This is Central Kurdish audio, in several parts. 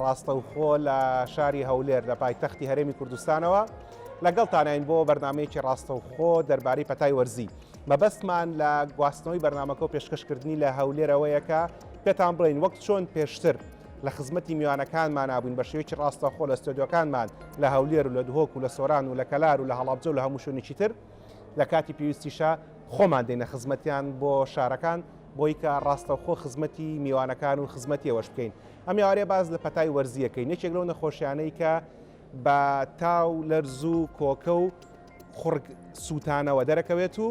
ڕاستەوخۆ لە شاری هەولێر لە پایتەختی هەرێمی کوردستانەوە لەگەڵتانین بۆ بەرنمەیەکی ڕاستەوخۆ دەربارەی پەتای وەرزی مەبەستمان لە گواستنەوەی بەرنمەکە و پێشکەشکردنی لە هەولێرەوەیەکە پێتان بڵین وەک چۆن پێشتر لە خزمەتی میوانەکانمان نابووین بە شێوەیەکی ڕاستەخۆ لە ستۆدیۆکانمان لە هەولێر و لە دهۆک و لە سۆران و لە کەلار و لە هەڵابجە و لە هەموو شوێنێکی تر لە کاتی پێویستیشە خۆمان دێنە خزمەتیان بۆ شارەکان بۆی کە ڕاستەوخۆ خزمەتی میوانەکان و خزمەتیەوەش بکەین ئەم ئێوارەیە باس لە پەتای وەرزی یەکەین یەکێک لەو نەخۆشیانەی کە بە تاو لەرز و کۆکە و خوڕگ سووتانەوە دەرەکەوێت و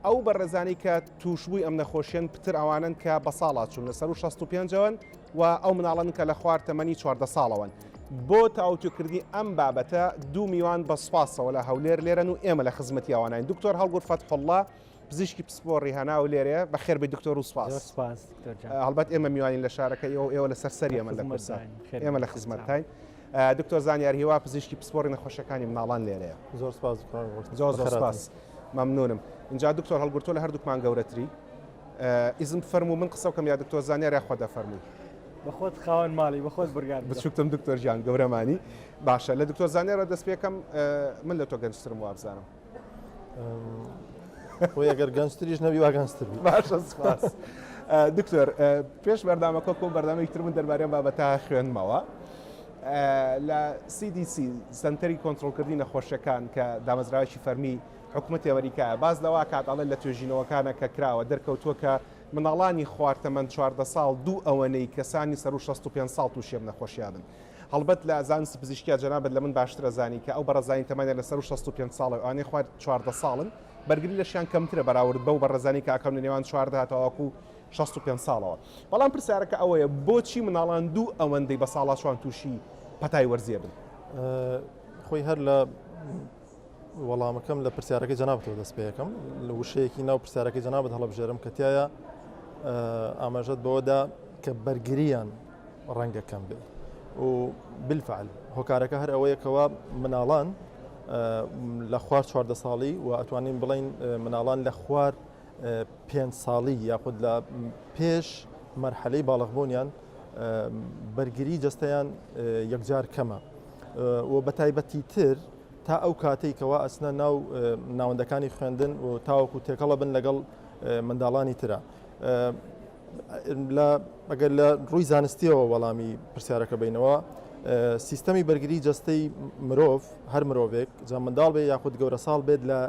ئەو بەڕێزانی کە تووشبووی ئەم نەخۆشیێن پتر ئەوانن کە بە ساڵا چوون لەسەر و 65ەوەن و ئەو مناڵن کە لە خوار تەمەنی چواردە ساڵەوەن بۆ تاوتوکردنی ئەم بابەتە دوو میوان بە سوپاسەوە لە هەولێر لێرەن و ئێمە لە خزمەتی ئەوانین دکتۆر هەڵگور فەتحله پزیشکی پسپۆڕی هەناو لێرەیە بەخێر بێی دکتۆر و سپاس زۆر سپاس دکتۆر جان هەڵبەت ئێمە میوانین لە شارەکە ئێوە و ئێوە لەسەر سەری ئێمە لە خزمەت کورسە داین. خێر ئێمە لە بێن. خزمەتتاین ئا، دکتۆر زانیار هیوا پزیشکی پسپۆڕی نەخۆشیەکانی مناڵان لێرەیە زۆر سپاس دکتۆر ڕۆشت. زۆر زۆر بەخێراتن. سپاس مەمنونم ئینجا دکتۆر هەڵگورتۆ لە هەردووکمان گەورەتری ئا، ئیزن بفەرموو من قسە بکەم یا دکتۆر زانیار یا خۆت دەفەرمووی بەخۆت خاوەن ماڵی بەخۆت بڕیار بدە بچووکتم دکتۆر گیان گەورەمانی باشە لە دکتۆر زانیارەوە دەست پێکەم ئا، من لە تۆ گەنجترم وابزانم خۆی ئەگەر گەنجتریش نەبی وا گەنجتر باشە سپاس دکتۆر پێش بەردامەکە کۆ بەردامێک تر من دەربارەیان بابەتە خوێنمەوە. لە CDC سنتەری کۆنتترۆلکردنی نەخۆشیەکان کە دامەزراوەکی فەرمی حکوومەت ئەمریکا باز لەوا کات ئەڵێن لە توێژینەوەکانە کە کراوە دەرکەوتووە کە مناڵانی خواردتەمەند چواردە ساڵ دوو ئەوەنەی کەسانی سەر و 65 ساڵ تووشێم نەخۆشیابن هەڵبەت لە زانست پزیشکیا جەنابت لە من باشتر ئەزانی کە ئەو بەڕێزانەی تەمەنیان لە سەروو شەست و پێنج ساڵە و ئەوانەی خوار چواردە ساڵن بەرگری لەشیان کەمترە بەراورد بەو بەڕێزانەی کە ئاکام لە نێوان چواردە تاوەکو شەست و پێنج ساڵەوە بەڵام پرسیارەکە ئەوەیە بۆچی مناڵان دوو ئەوەندەی بەساڵاچوان تووشی پەتای وەرزێ بن؟ خۆی هەر لە وەڵامەکەم لە پرسیارەکەی جەنابتەوە دەست پێ یەکەم لە وشەیەکی ناو پرسیارەکەی جەنابت هەڵبژێرم کە تایە ئاماژەت بەوەدا کە بەرگریان ڕەنگە کەم بێ و بالفعل هۆکارەکە هەر ئەوەیەکەوە مناڵان لە خوار چواردە ساڵی و ئەتوانین بڵین مناڵان لە خوار پێ ساڵی یاخود لە پێش مەرحەلەی باڵغبوونیان بەرگری جستەیان یەکجار کەمە و بەتایبەتی تر تا ئەو کاتەی کەوا ئەچنە ناو ناوەندەکانی خوێندن و تاوەکو تێکەڵە بن لەگەڵ منداڵانی ترە. ئەگەر لە ڕووی زانستیەوە وەڵامی پرسیارەکە بینەوە سیستەمی بەرگری جەستەی مرۆڤ هەر مرۆڤێک جا منداڵ بێ یاخود گەورە ساڵ بێت لە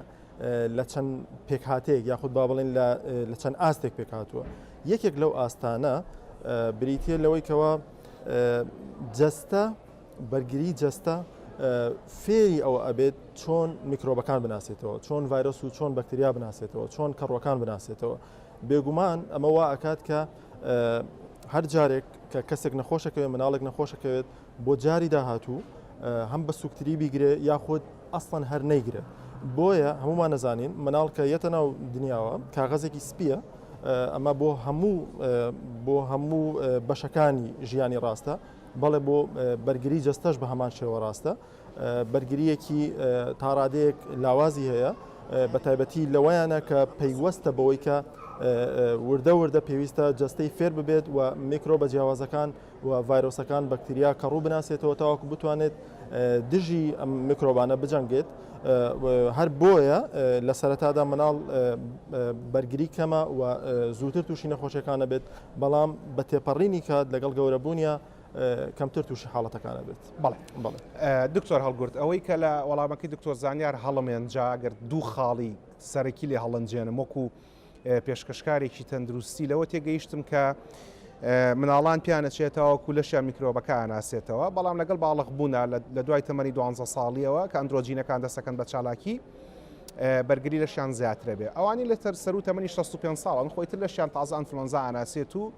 لە چەند پێکهاتەیەک یاخود با بڵێن لە چەند ئاستێک پێکهاتووە یەکێک لەو ئاستانە بریتە لەوەی کەەوە جەستە بەرگری جەستە فێری ئەوە ئەبێت چۆن میکرۆبەکان بناسێتەوە چۆن ڤایرۆس و چۆن بەکتریا بناسێتەوە چۆن کەڕۆکان بناسێتەوە بێگومان ئەمە وا ئەکات کە هەر جارێک کە کەسێک نەخۆشەکەوێت مناڵێک نەخۆشەکەوێت بۆ جاری داهاتوو هەم بە سوکتری بیگرێ یاخود ئەسڵەن هەر نەیگرێت بۆیە هەمومان نەزانین مناڵکە یەتە ناو دنیاوە کاغەزێکی سپیە ئەمە بۆ هەموو بۆ هەموو بەشەکانی ژیانی ڕاستە بەڵێ بۆ بەرگری جەستەش بە هەمان شێوە ڕاستە بەرگریەکی تاڕادەیەک لاوازی هەیە بە تایبەتی لەوەیانە کە پەیوەستە بەوەی کە وردە وردە پێویستە جستەی فێر ببێت و میکرۆ بە جیاوازەکان و ڤایرۆسەکان بەکتریا کە ڕوو بناسێتەوە تاوەکو بتوانێت دژی ئەم میکرۆبانە بجەنگێت هەر بۆیە لە سەرەتادا مناڵ بەرگری کەمە و زووتر تووشی نەخۆشیەکانە بێت بەڵام بە تێپەڕینی کات لەگەڵ گەورەبوونیا کەمتر تووشی حاڵەتەکانە بێت بەڵێ بڵێ دکتۆر هەڵگرت ئەوەی کە لە وەڵامەکەی دکتۆر زانیار هەڵمێن جاگەر دوو خاڵی سەرەکی لێ هەڵنجێنم وەکو پێشکەشکارێکی تەندروستی لەوە تێگەیشتم کە مناڵان پیانەچێتەوەکو لەشیان میکرۆبەکە ئەناسێتەوە بەڵام لەگەڵ باڵق بوونا لە دوای تەمەنی دوانزە ساڵیەوە کە ئەندرۆجینەکان دەسەکەن بە چالاکی بەرگری لەشیان زیاترە بێ ئەوانی لەتەر سەرو تەمەنی 65 ساڵن خۆی تر لەشیان تازە ئەنفلۆنزا ئەناسێت و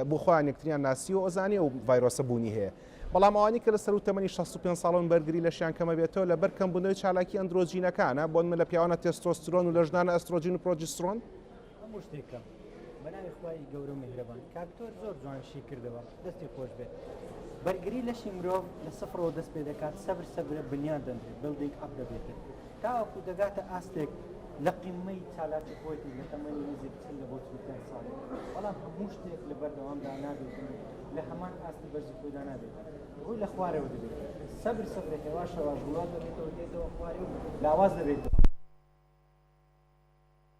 بۆ خۆیان یەکتریان ناسی و ئەزانی و ڤایرۆسە بوونی هەیە بەڵام ئەوانی کە لە سەرو تەمەنی 65 ساڵن بەرگری لەشیان کەمە بێتەوە لە بەرکەم بنەوەی چالاکی ئەندرۆجینەکانە بۆن من لە پیاوانە تێستۆسترۆن و لە ژنانە ئەسترۆجین و پرۆجسترۆن هەموو شتێک کەم بەناوی خوای گەورەو میهرەبان. کاک تۆر زۆر جوان شی کردەوە دەستی خۆش بێت. بەرگری لەشی مرۆڤ لە سفڕەوە دەست پێ دەکات سەبر سەبرە بنیات دەنرێت Building up دەبێتن تاوەکو دەگاتە ئاستێک لە قیممەی چالاکی خۆیتی لە تەمەنی نزیک چل لە بۆ چل و پێنج ساڵی بەڵام هەموو شتێک لە بەردەوامدا نابێتن و لە هەمان ئاستی بەرزی خۆیدا نابێتن ڕووی لە خوارەوە دەبێت سەبر سەبرە هێواش هێواش بڵاو دەبێتەوە دێتەوە خوارێ و لاواز دەبێتەوە.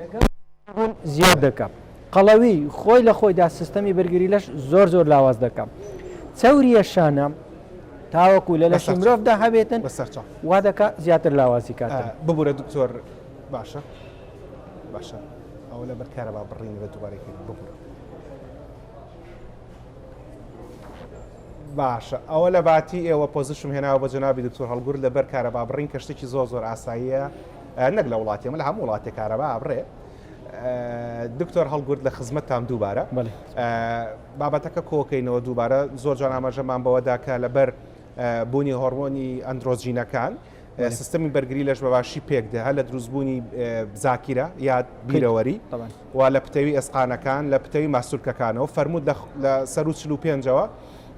لەگەڵ بوون زیاد دەکا. قەڵەوی، خۆی لە خۆیدا سیستەمی بەرگری لەش زۆر زۆر لاواز دەکا. چەورییە شانە تاوەکو لە لەشی مرۆڤدا هەبێتن بە سەر چاو وا دەکا زیاتر لاوازی کات آه، ببورە دکتۆر باشە باشە ئەوە لە بەرکارە با بڕین بە دووبارەی کرد ببورە باشە ئەوە لە باتی ئێوە پۆزیشم هێناوە بە جنابی دکتۆر هەڵگور لە بەرکارە با بڕین کە شتێکی زۆر زۆر ئاساییە نەک لە وڵاتی ئێمە لە هەموو وڵاتێک کارەبا ئەبڕێ. دکتۆر هەڵگورد لە خزمەتتام دووبارە بابەتەکە کۆکەینەوە دووبارە زۆر جوان ئاماژەمان بەوەدا کە لەبەر بوونی هۆرمۆنی ئەندرۆجینەکان سیستمی بەرگری لەش بەباشی پێکدە هەر لە دروستبوونی زاکیرە یاد بیرەوەری و لە پتەوی ئێسقانەکان لە پتەوی ماسولکەکانەوە فەرموود لە لە سەروو چل و پێنجەوە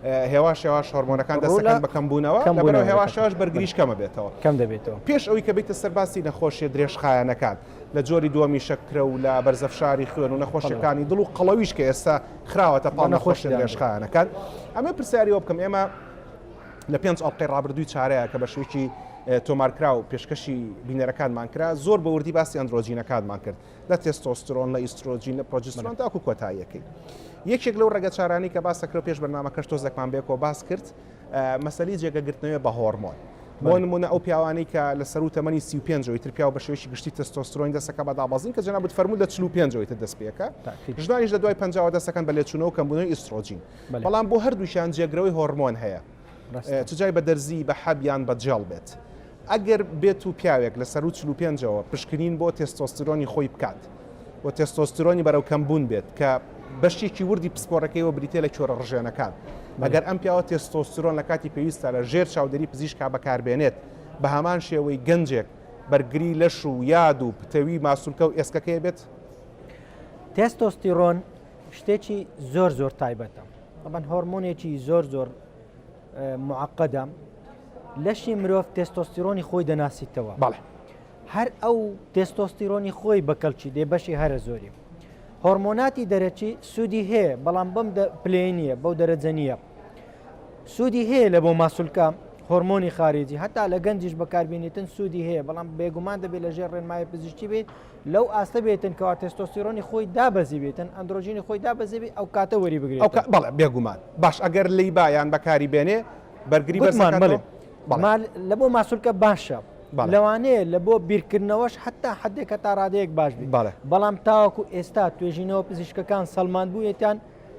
هێواش هێواش هۆرمۆنەکان دەست دەکەن بە کەمبوونەوە لەبەرەوە هێواش هێواش بەرگریش کەمە بێتەوە کەم دەبێتەوە پێش ئەوی کە بیتە سەر باسی نەخۆشیە درێژخایەنەکان لە جۆری دووەمی شەکرە و لە بەرزە فشاری خوێن و نەخۆشیەکانی دڵ و قەڵەویش کە ئێستا خراوەتە پاڵ نەخۆشی درێژخایەنەکان ئەمە پرسیاریەوە بکەم ئێمە لە پێنج ئەڵلقەی ڕابردووی چارەیە کە بە شوێکی تۆمارکراو پێشکەشی بینەرەکانمان کرا زۆر بەوردی باسی ئەندرۆجینەکانمان کرد لە تێستۆسترۆن، لە ئیسترۆجین، لە پرۆجسترۆن تاکو کۆتاییەکەی. یەکێک لەو ڕەگە چارانەی کە باسەکرا و پێش بەرنامەکەش تۆزێکمان بەیەکەوە باس کرد، مەسەلەی جێگە گرتنەوەیە بە هۆرمۆن. بۆ نمونە ئەو پیاوانەی کە لە سەروو تەمەنی سی و پێنجەوەی تر پیاو بە شێوەیەکی گشتی تێستۆسترۆنی دەستەکە بە دابەزین کە جەنابت فەرموو لە چل و پێنجەوەی تر دەست پێەکە ژنانیش لە دوای پەنجاوە دەستەکەن بە لێچوونەوە کەمبوونەوەی ئیسترۆجین بەڵام بۆ هەردووکیان جێگرەوەی هۆرمۆن هەیە. چ جای بە دەرزیی بە حەب یان بە جێڵ بێت. ئەگەر بێت و پیاوێک لە سەروو چل و پێنجەوە پشکنین بۆ تێستۆستیرۆنی خۆی بکات و تێستۆستیرۆنی بەرەو کەمبوون بێت کە بەشێکی وردی پسپۆرەکەیەوە بریتییە لە کێوەرە ڕژێنەکان، ئەگەر ئەم پیاوە تێستۆستیرۆن لە کاتی پێویستدا لە ژێر چاودێری پزیشکا بەکار بێنێت، بە هەمان شێوەی گەنجێک بەرگری لەش و یاد و پتەوی ماسولکە و ئێسکەکەی بێت. تێستۆستیرۆن شتێکی زۆر زۆر تایبەتە. طبعا هۆرمۆنێکی زۆر زۆر معقدە لەشی مرۆڤ تێستۆستیرۆنی خۆی دەناسیتەوە بەڵێ هەر ئەو تێستۆستیرۆنی خۆی بەکەڵکی دێ بەشی هەرە زۆری هۆرمۆناتی دەرەکی سوودی هەیە بەڵام بەم پلێ نییە بەو دەرەجە نییە سوودی هەیە لە بۆ ماسولکە هۆرمۆنی خارجی هەتا لە گەنجش بەکاربیێنیتن سوودی هەیە بەڵام بێگومان دەبێت لەژێر ڕێنمای پزیشتی بێت لەو ئاستە بێتن کەوا تێستۆستیرۆنی خۆی دابەزی بێتن ئەندرۆژینی خۆی دابەزێبی ئەو کاتە وەری بگرێت ئەو کە- بەڵێ بێگومان باش ئەگەر لی بایان بەکاری بێنێ بەرگری بەرز گوتمان دەکاتەوە؟ بەڵێ بەڵێ. مال لە بۆ ماسولکە باشە بەڵێ. لەوانەیە لە بۆ بیرکردنەوەش حتا حدێک هەتا ڕادەیەک باش بێت بەڵێ. بەڵام تاوەکو ئێستا توێژینەوە پزیشکەکان سەلماندبوویەتیان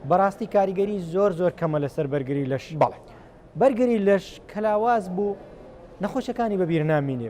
بەڕاستی کاریگەری زۆر زۆر کەمە لەسەر بەرگری لەش بەڵێ. بەرگری لەش کەلاواز بوو نەخۆشەکانی بەبیر نامینێ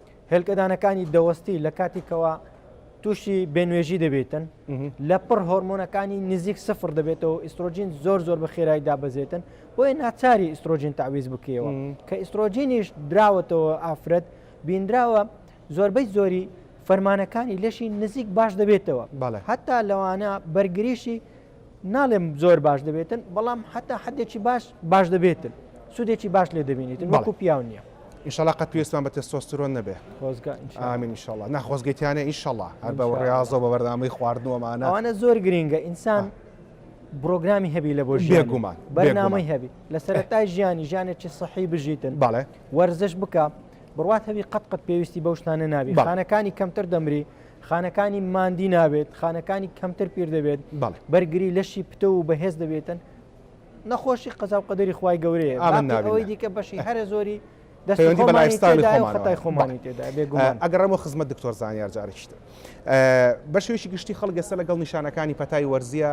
هێلکەدانەکانی دەوەستی لە کاتێکەوە تووشی بێنوێژی دەبێتن لە پڕ هۆرمۆنەکانی نزیک سفر دەبێتەوە ئیسترۆجین زۆر زۆر بە خێرایی دابەزێتن بۆیە ناچاری ئیسترۆجین تعویز بکەوە کە ئیسترۆجینیش دراوەتەوە ئافرەت بینراوە زۆربەی زۆری فەرمانەکانی لەشی نزیک باش دەبێتەوە هەتا لەوانە بەرگریشی ناڵێم زۆر باش دەبێتن بەڵام حتا حدێکی باش باش دەبێتن سوودێکی باش لێ دەبینیتن وەکو پیاو نییە ئیشەڵا قەت پێستان بە تێستۆسترۆن نەبێ ئامین شڵە ناخۆزگەیتیانە ئیشەڵا هەر بە ڕاستەوە بە بەردامەی خواردنەوەمانە ئەوانە زۆر گرینگە ئینسان بڕۆگرامی هەبی لە بۆ ژێگومان بەرنامەی هەبی لە سەرەتای ژیانی ژیانێکی سەحی بژیتن باڵێ وەرزش بکە بڕات هەوی قەت قەت پێویستی بەو شتانە نابی خانەکانی کەمتر دەمری خانەکانی ماندی نابێت خانەکانی کەمتر پیر دەبێت بەرگری لەشی پتە و بەهێز دەبێتن نەخۆشی قەزا و قەدەری خی گەورەیە ئەوەی دیکە بەشی هەرە زۆری دەستەوەندی بەلایستانی خۆمانتای خۆمانی تێدا ئەگەڕەمە خزمەت دکتۆر زانیار جارشت بەشێکی گشتی خەڵگەسە لەگەڵ نیشانەکانی پەتای وەرزیە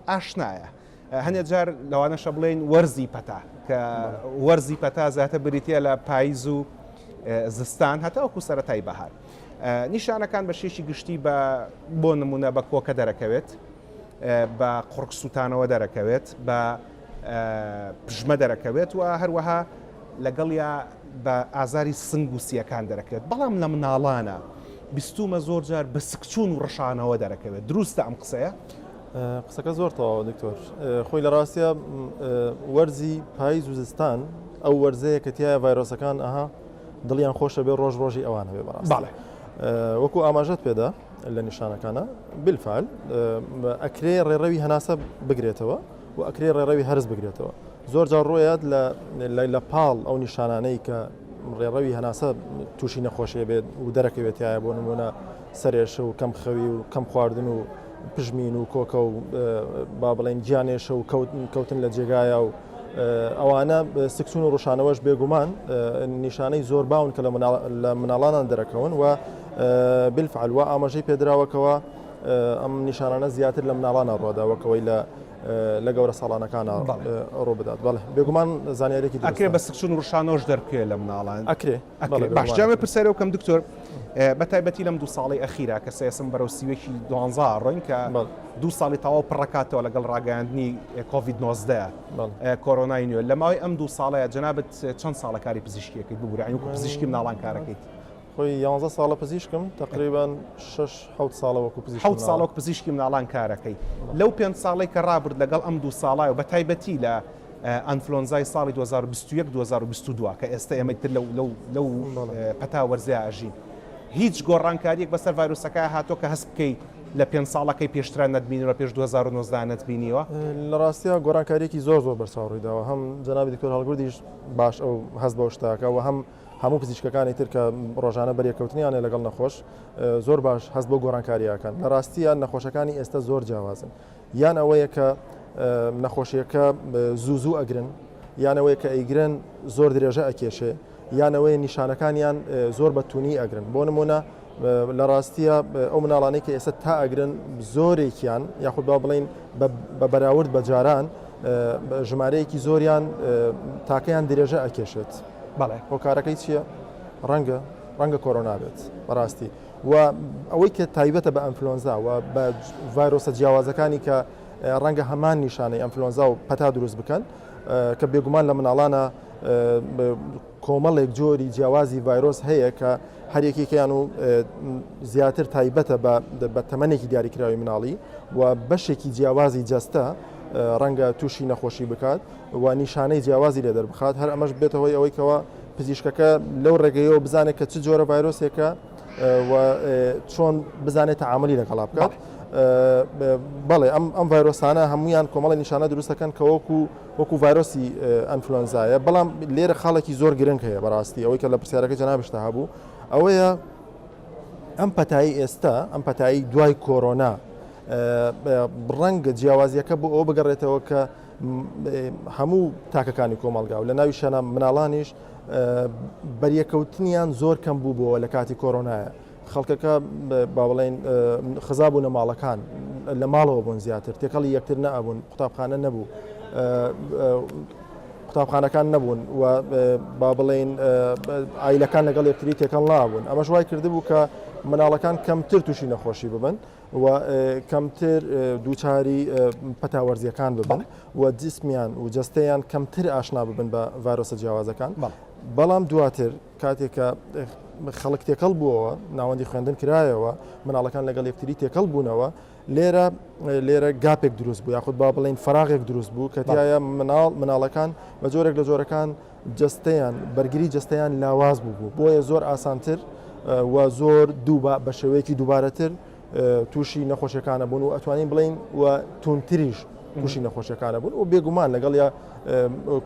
ئاشنایە هەندێک جار لەوانەشە بڵێن وەرزی پەتا کە وەرزی پەتا زیاتر بریتە لە پاییز و زستان هەتاوەکو سەتای بەهار نیشانەکان بە شێشی گشتی بە بۆ نمونە بە کۆکە دەرەکەوێت بە قڕک سووتانەوە دەرەکەوێت بە پژمە دەرەکەوێت و هەروەها لەگەڵیا بە ئازاری سنگ و سیەکان دەرەکەوێت بەڵام لە مناڵانە بیستومە زۆر جار بە سکچون و ڕشانەوە دەرەکەوێت دروستە ئەم قسەیە قسەکە زۆر تەواوە دکتۆر خۆی لە ڕاستە وەرزی پاییز و زستان ئەو وەرزەیە کە تایە ڤایرۆسەکان ئەها دڵیان خۆشە بێ ڕۆژ ڕۆژی ئەوان هەبێ بەڕاست وەکو ئاماژەت پێدا لە نیشانەکانە بلفال ئەکرێ ڕێڕەوی هەناسە بگرێتەوە و ئەکرێ ڕێڕەوی هەرز بگرێتەوە زۆر جار ڕۆیات لە پاڵ ئەو نیشانانەی کە ڕێڕەوی هەناسە تووشی نەخۆشیە بێت و دەرەکەوێتایە بۆ نمونە سەرێش و کەم خەوی و کەم خواردن و پژمین و کۆکە و با بڵێن گیانێشە و کەوتن لە جێگایە و ئەوانە سکسون و ڕشانەوەش بێگومان نیشانەی زۆر باون کە لە مناڵانان دەرەکەون و بلفعل و ئاماژەی پێدراوەکەوە ئەم نیشانانە زیاتر لە مناڵانە ڕۆداوەکەوەی لە لە گەورە ساڵانەکان ڕۆ بدات بەڵێ بێگومان زانیارێکی ئەکرێ بە سکسون ڕشانەوەش دەرکێ لە مناڵان ئەکرێ ئەکرێت باش جاوێ پرسیارێ بکەم دکتۆر بە تایبەتی لەم دوو ساڵی ئەخیرا کە سێسم بەرەو سیوێکی دوانزا ڕۆین کە دوو ساڵی تەواو پڕکاتەوە لەگەڵ ڕاگەاندنی کۆVید 19 کۆرۆنای نوێ لە ماوەی ئەم دوو ساڵەیە جەنابەت چەند ساڵەکاری پزیشکیەکەیت ببوورانی وکو پزیشکی ناڵانکارەکەیت. خۆی 11 ساڵە پزیشکم تقریبان 6 ساڵەوەکو پزیشک ساڵک پزیشکی مناڵان کارەکەی لەو پێنج ساڵی کە ڕابرد لەگەڵ ئەم دوو ساڵای و بە تایبەتی لە ئەنفلۆنزای ساڵی دوو هەزار و بیست و یەک دوو هەزار و بیست و دوو کە ئێستە ئێمە ئیتر لەو لەو لەو پەتا وەرزەیا ئەژین هیچ گۆڕانکاریەک بەسەر ڤایرۆسەکە هاتووە کە هەست بکەی لە پێنج ساڵەکەی پێشترا نەتبینیوە پێش دوو هەزار و نۆزدە نەتبینیوە؟ لە ڕاستیا گۆڕانکاریەکی زۆر زۆر بەرچاو ڕوویداوە هەم جەنابی دکتۆر هەڵگوردیش باش ئەو هەست بەو شتاکە و هەم هەموو پزیشکەکانی تر کە ڕۆژانە بەرێکەوتنیانە لەگەڵ نەخۆش زۆر باش هەست بۆ گۆڕانکاریەکان لە ڕاستیە نەخۆشەکانی ئێستا زۆر جیاوازن یان ئەوەیە کە نەخۆشیەکە زوو زوو ئەگرن یان ئەوەیە کە ئەیگرن زۆر درێژە ئەکێشێ یان ئەوەیە نیشانەکانیان زۆر بە تونی ئەگرن بۆ نمونە لە ڕاستیە ئەو مناڵانەی کە ئێستا تا ئەگرن زۆرێکیان یاخود با بڵین بە بەراورد بە جاران ژمارەیەکی زۆریان تاکەیان درێژە ئەکێشێت بەڵێ هۆکارەکەی چییە ڕەنگە ڕەنگە کۆرۆنا بێت بەڕاستی و ئەوەی کە تایبەتە بە ئەنفلۆنزا و بە ڤایرۆسە جیاوازەکانی کە ڕەنگە هەمان نیشانەی ئەنفلۆنزا و پەتا دروست بکەن کە بێگومان لە مناڵانە کۆمەڵێک جۆری جیاوازی ڤایرۆس هەیە کە هەرێکێکیان و زیاتر تایبەتە بە تەمەێکی دیاریکراوی مناڵی و بەشێکی جیاوازی جەستە ڕەنگە تووشی نەخۆشی بکات و نیشانەی جیاوازی لێ دەربخات هەر ئەمەش بێتەوەی ئەوەیکەوە پزیشکەکە لەو ڕێگەیەوە بزانێت کە چ جۆرە ڤایرۆسێکە و چۆن بزانێت تەعاملی لەگەڵا بکات بەڵێ ئەم ئەم ڤایرۆسانە هەمویان کۆمەڵی نیشانە دروستەکەن کە وەکو وەکو ڤایرۆسی ئەنفلۆنزایە بەڵام لێرە خاڵێکی زۆر گرنگ هەیە بەڕاستی ئەوەی کە لە پرسیارەکە جەنابشتا هەبوو ئەوەیە ئەم پەتایی ئێستا ئەم پەتایی دوای کۆرۆنا ڕەنگە جیاوازیەکە بۆ ئەو بگەڕێتەوە کە هەموو تاکەکانی کۆمەڵگا و لە ناویشەنا مناڵانیش بەریەکەوتنیان زۆر کەم بوو بۆ لە کاتی کۆرۆنایە خەڵکەکە باوڵین خزاب و نەماڵەکان لە ماڵەوە بوون زیاتر تێکەڵی یەکتر نەبوون قوتابخانە نەبوو قوتابخانەکان نەبوون و با بڵێین ئایلەکان لەگەڵ یەکتری تێکەڵ نابوون ئەمەش وای کردبوو کە مناڵەکان کەمتر تووشی نەخۆشی ببن و کەمتر دووچاری پەتا وەرزیەکان ببن و جسمیان و جستەیان کەمتر ئاشنا ببن بە ڤایرۆسە جیاوازەکان بەڵام دواتر کاتێکە خەڵک تێکەڵ بووەوە ناوەندی خوێندن کرایەوە مناڵەکان لەگەڵ یەکتری تێکەڵ بوونەوە لێرە لێرە گاپێک دروست بوو یاخود با بڵین فراغێک دروست بوو کە تایە مناڵ مناڵەکان بە جۆرێک لە جۆرەکان جەستەیان، بەرگری جەستەیان لاواز بووبوو، بۆیە زۆر ئاسانتر و زۆر دووبا، بە شێوەیەکی دووبارەتر تووشی نەخۆشیەکانە بوون و ئەتوانین بڵێین و توندتریش تووشی نەخۆشیەکانە بوون و بێگومان لەگەڵ یا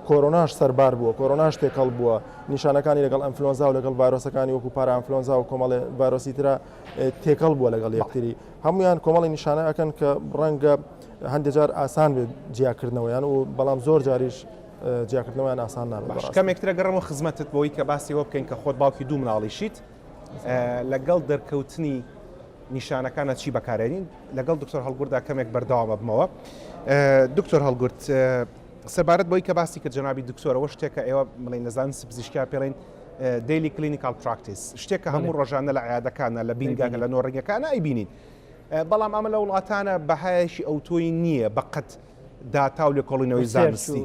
کۆرۆناش سەربار بووە کۆرۆناش تێکەڵ بووە نیشانەکانی لەگەڵ ئەمفلۆنزا و لەگەڵ ڤایرۆسەکانی وەکو پارامفلۆنزا و کۆمەڵێ ڤایرۆسی تررا تێکەڵ بووە لەگەڵ یەکتری هەمویان کۆمەڵی نیشانە ئەەکەن کە ڕەنگە هەندێجار ئاسان بێت جیاکردنەوەیان و بەڵام زۆر جاریش جیاکردنەوەیان ئاسان نابێت بەڕاستی. باش کەمێک ترە گەڕەمەوە خزمەتت بۆی کە باسی ئەوە بکەین کە خۆت باوکی دوو مناڵیشیت لەگەڵ دەرکەوتنی نیشانەکانە چی بەکارێنین لەگەڵ دکتۆر هەڵگوردا کەمێک بەردەوامە بمەوە دکتۆر هەڵگورد سەبارەت بۆی کە باسی کرد جنابی دکتۆرەوە شتێکە ئێوە بڵین لە زانستی پزیشکیا پێڵین دیلی کلینیکال پراکتیس شتێکە هەموو ڕۆژانە لە عیادەکانە لە بینگاکە لە نۆڕنگەکانە ئەیبینین بەڵام ئەمە لە وڵاتانە بەهایەکی ئەوتۆی نییە بەقەت داتا و لێکۆڵینەوەی زانستی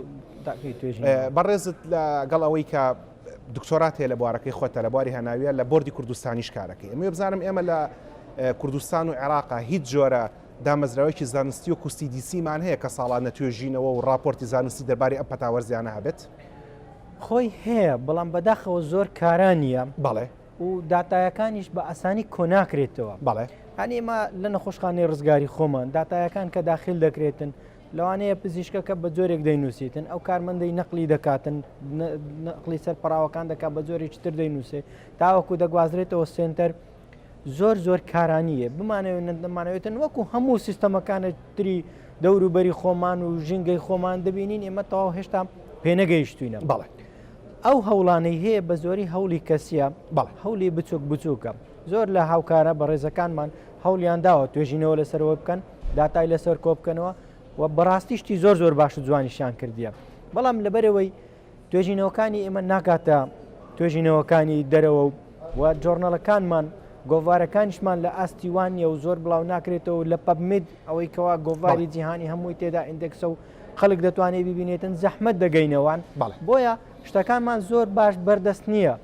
بەڕێزت لەگەڵ ئەوەی کە دکتۆرات هەیە لە بوارەکەی خۆتە لە بواری هەناویە لە بردی کوردستانیش کارەکەی ئەمێ بزانم ئێمە لە کوردستان و عێراقا هیچ جۆرە دامەزراوەیەکی زانستی و کوستی دیسیمان هەیە کە ساڵان نەتوێژینەوە و راپۆرتی زانستی دەرباری ئەم پەتاوەرزیانە هەبێت خۆی هەیە بەڵام بەداخەوە زۆر کارانە بەڵێ و داتایەکانیش بە ئاسانی کۆناکرێتەوە بەڵێ ئێمە لە نەخۆشخانەی ڕزگاری خۆمان داتایەکان کە داخل دەکرێتن لەوانەیە پزیشکەکە بە جۆرێک دەینوسیتن ئەو کارمەندەی نەقلی دەکاتن نقلی سەر پراوەکان دەکات بە جۆرێکی تر دەینوسێ تاوەکو دەگوازرێتەوە سنتەر زۆر زۆر کارانیە بمانەوە نەدەمانەوێتن وەکو هەموو سیستەمەکانە تری دەوروبەری خۆمان و ژینگەی خۆمان دەبینین ئێمە تەواو هێشتا پێنەگەیشتوینە بەڵێت ئەو هەوڵانەی هەیە بە زۆری هەوڵی کەسیە بەڵ هەولی بچوک بچووکە زۆر لە هاوکارە بەڕێزەکانمان هەولیان داوە توێژینەوە لەسەرەوە بکەن داتای لەسەر کۆ بکەنەوە و بەڕاستیشتی زۆر زۆر باش و جوانیشان کردیە بەڵام لەبەرەوەی توێژینەوەکانی ئێمە ناکاتە توێژینەوەکانی دەرەوە و و جۆرنەڵەکانمان گۆڤارەکانیشمان لە ئاستی وانە و زۆر بڵاو ناکرێتەوە لە پەبمید ئەوەی کەوا گۆڤاری جیهانی هەمووی تێدا ئیندێکسە و خەلک دەتوانێ بیبینێتن زەحمەت دەگەینەوان بەڵێ بۆیە شتەکانمان زۆر باش بەردەست نییە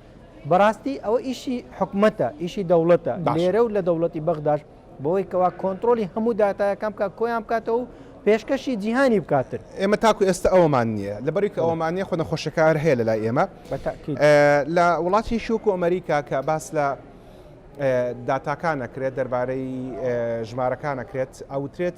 بەڕاستی ئەوە ئیشی حکومەتە ئیشی دەوڵەتە لێرە و لە دەوڵەتی بەغداش بەوەی کەوا کۆنتترۆلی هەموو دااتایەکان بکە کۆیان بکاتەوە و پێشکەشی جیهانی بکاتن ئێمە تاکو ئێستا ئەومان نییە لە بەریکە ئەومان نیە خۆنە خۆشەکار هەیە لە لای ئێمە لە وڵاتی شوک و ئەمریکا کە باس لە داتاکانەکرێت دەربارەی ژمارەکانەکرێت ئەوترێت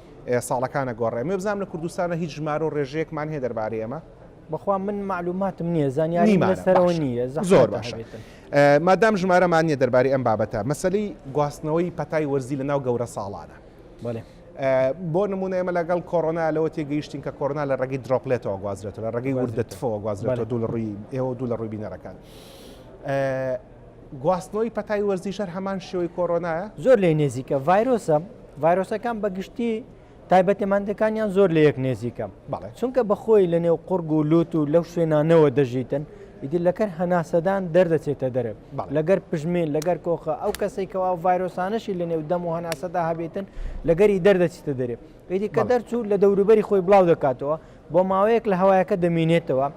ساڵەکانە گۆڕێ مێ بزانم لە کوردستانە هیچ ژمارە و ڕێژەیەکمان هەیە دەربارەی ئەمە؟ بەخوا من معلوماتم نییە زانیاریم لەسەرەوە نییە زۆر باشە مادام ژمارەمان نییە دەربارەی ئەم بابەتە مەسلی گواستنەوەی پەتای وەرزی لە ناو گەورە ساڵانە بەێ بۆ نمونە ئێمە لەگەڵ کۆرۆنا لەوە تێگەیشتین کە کۆرنا لە ڕێگەی درۆپلێتەوە گوازرێتەوە لە ڕێگەی وردەتفەوە گوازرێتەوە دوو لە ڕووی ئێوە دوو لە ڕووی بینەرەکان گواستنەوەی پەتای وەرزیش هەر هەمان شێوەی کۆرۆنایە؟ زۆر لێی نێزیکە ڤایرۆسە، ڤایرۆسەکان بە گشتی تایبەتمەندەکانیان زۆر لە یەک نێزیکە، چونکە بە خۆی لە نێو قوڕگ و لووت و لەو شوێنانەوە دەژیتن، ئیدی لەکەر هەناسەدان دەردەچێتە دەرێ، لەگەر پژمین، لەگەر کۆخە، ئەو کەسەی کەوا ئەو ڤایرۆسانەشی لە نێو دەم و هەناسەدا هەبێتن لەگەری دەردەچیتە دەرێ، ئیدی کە دەرچوو لە دەوروبەری خۆی بڵاو دەکاتەوە، بۆ ماوەیەک لە هەوایەکە دەمینێتەوە،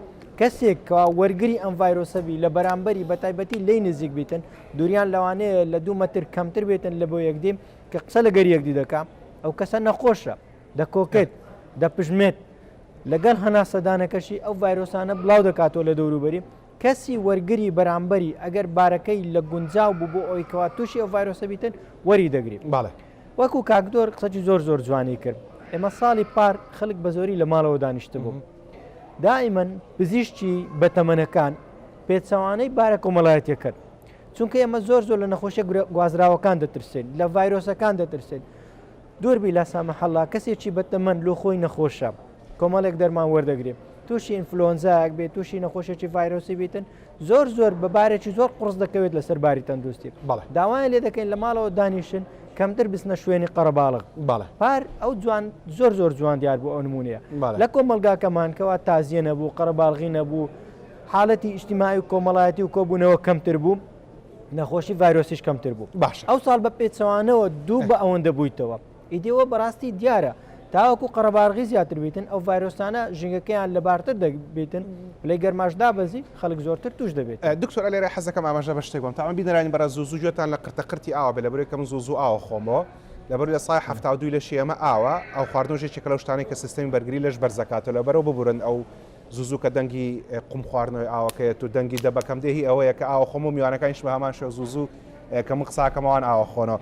کەسێک کە وەرگری ئەم ڤایرۆسە بی لە بەرامبەری بە تایبەتی لێی نزیک بیتن دوریان لەوانەیە لە دوو مەتر کەمتر بێتن لە بۆ یەکدی کە قسە لەگەر یەکدی دەکا ئەو کەسە نەخۆشە دەکۆکێت دەپژمێت لەگەڵ هەناسەدانەکەشی ئەو ڤایرۆسانە بڵاو دەکاتەوە لە دەوروبەری کەسی وەرگری بەرامبەری ئەگەر بارەکەی لە گونجاو بوو بۆ ئەوەی کەوا توشی ئەو ڤایرۆسە بیتن وەری دەگری. بەڵێ. وەکو کاک دۆر قسەکی زۆر زۆر جوانی کرد ئێمە ساڵی پار خەلک بە زۆری لە ماڵەوە دانیشتبوو دائیمەن پزیشکی بە تەمەنەکان پێچەوانەی بارە کۆمەڵایەتیە کرد چونکە ئێمە زۆر زۆر لە نەخۆشە گوازراوەکان دەترسێن لە ڤایرۆسەکان دەترسێن دوربی لە سامە حەڵا کەسێکی بەتەمەن لۆ خۆی نەخۆشە. کۆمەڵێک دەرمان وەردەگرێت تووشی ئینفلۆنزایەک بێت تووشی نەخۆشێکی ڤایرۆسی بیتن زۆر زۆر بەبارێکی زۆر قڕز دەکەوێت لەسەر باری تەندروستی بەڵێ داوایان لێ دەکەین لە ماڵەوە دانیشن کەمتر بستنە شوێنی قەرەباڵغ بەڵێ پار ئەو جوان زۆر زۆر جوان دیار بوو ئەو نمونەیە لە کۆمەلگاکەمان کەوا تازیە نەبوو قەرەباڵغی نەبوو حالەتی ئیشتیمای و کۆمەڵایەتی و کۆبوونەوە کەمتر بوو نەخۆشی ڤایرۆسیش کەمتر بوو باش ئەو ساڵ بە پێچەوانەوە دوو بە ئەوەندە بوویتەوە ئیدی ئەوە بەڕاستی دیارە تاوەکو قەرەبارغی زیاتر بیتن ئەو ڤایرۆسانە ژنگەکەیان لەبارتر دەبیتن لەی گەرماش دابەزی خەڵک زۆرتر توش دەبێت دکتۆر ئەلێرە حەزەکەم ئاماژە بە شتێک بم تاوان بینەرانی بەڕێز زوو زوو گوێتان لە قرتە قرتی ئاوە بێ لەبەرەوەی کە من زوو زوو ئاوە خۆمەوە لەبەر لە سای حەفتا و دووی لەشی ئێمە ئاوە ئەو خواردنەوە ژێکێکە لەو شتانەی کە سیستمی بەرگری لەش بەرز دەکاتەوە لەبەرەوە ببورن ئەو زوو زوو کە دەنگی قوم خواردنەوەی ئاوەکەیەت و دەنگی دەبەکەم دێ هی ئەوەیە کە ئاوە خۆم و میوانەکانیش بە هەمان شێوە زوو زوو کە من قساکەمەوان ئاوە خۆنەوە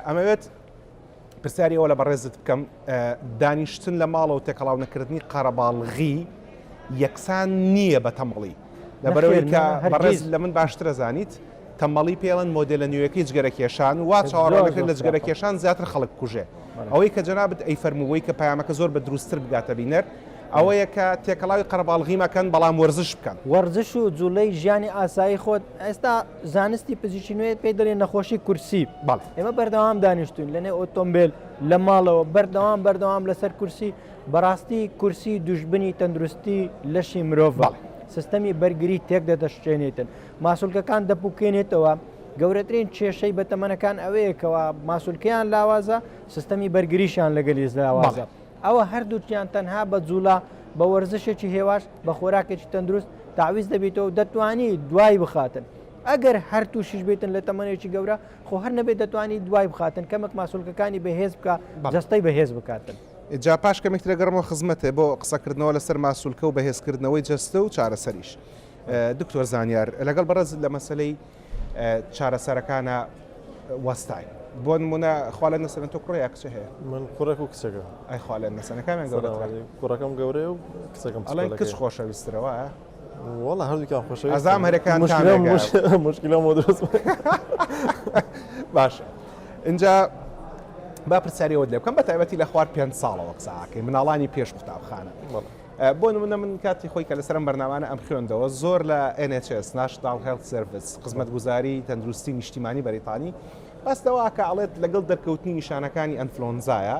ئەمەوێت پرسیاری ئەوە لە بەڕێزت بکەم دانیشتن لە ماڵەوە تێکەڵاو نەکردنی قەرەباڵغی یەکسان نییە بە تەمەڵی لەبەرەوەی کە بەڕێز لە من باشترە زانیت تەمەڵی پێڵەن مۆدلە نوێەکەی جگەرەکێشان وا چاوەڕۆەکە لە جگەرەکێشان زیاتر خەڵک کوژێ ئەوەی کە جەنابەت ئەی فەرمووی کە پامەکە زۆر بە دروستتر بگاتە بینەر ئەوەیە کە تێکەڵاوی قەرباڵغی مەکەن بەڵام وەرزش بکەن وەرزش و جوڵەی ژیانی ئاسایی خۆت ئێستا زانستی پزیشکی نوێ پێی دەڵێن نەخۆشی کورسی بەڵ ئێمە بەردەوام دانیشتوین لەنێ ئۆتۆمبیل لە ماڵەوە بەردەوام بەردەوام لەسەر کورسی بەڕاستی کورسی دوژبنی تەندروستی لەشی مرۆڤ سیستەمی بەرگری تێک دەدەشتێنێتن ماسولکەکان دەپوکێنێتەوە گەورەترین کێشەی بە تەمەنەکان ئەوەیەکەوە ماسولکەیان لاوازە سیستەمی بەرگریشان لەگەلی زراوازە ئەوا هەردووکیان تەنها بە جوڵە، بە وەرزشێکی هێواش، بە خۆراکێکی تەندروست تەعویز دەبیتەوە و دەتوانی دوای بخاتن. ئەگەر هەر تووشیش بیتن لە تەمەنێکی گەورە، خۆ هەر نەبێت دەتوانی دوای بخاتن، کەمێک ماسولکەکانی بەهێز بکە، جەستەی بەهێز بکاتن. جا پاش کەمێک ترەگەڕمەوە خزمەتێ بۆ قسەکردنەوە لەسەر ماسولکە و بەهێزکردنەوەی جەستە و چارەسەریش. دکتۆر زانیار لەگەڵ بەڕێز لە مەسەلەی چارەسەرەکانە وەستاین بۆ نمونە خوالە نەسەن تۆ کوڕەیە کچ هەیە من کوڕێک و کچەکە ئەی خوالە نەسەنەکانیان گەورە کوڕەکەم گەورەیە و کچەکەم ئەڵێن کچ خۆشەویسترەوە وڵە هەردووکیان خۆش ئەزام هەرەکان مشکلە بۆ دەست باشە اینجا با پرسیارەوە لێ بکەم بە تایبەتی لە خوار پێ ساڵەوە قساکەی مناڵانی پێش قوتابخانە. بۆ نمونە من کاتی خۆی کە لەسەرم بەرنامانە ئەم خوێندەوە زۆر لە NHS National Health Service خزمەتگوزاری تەندروستی نیشتیمانی بەریتانی باس لەوە کە ئەڵێت لەگەڵ دەرکەوتنی نیشانەکانی ئەنفلۆنزایە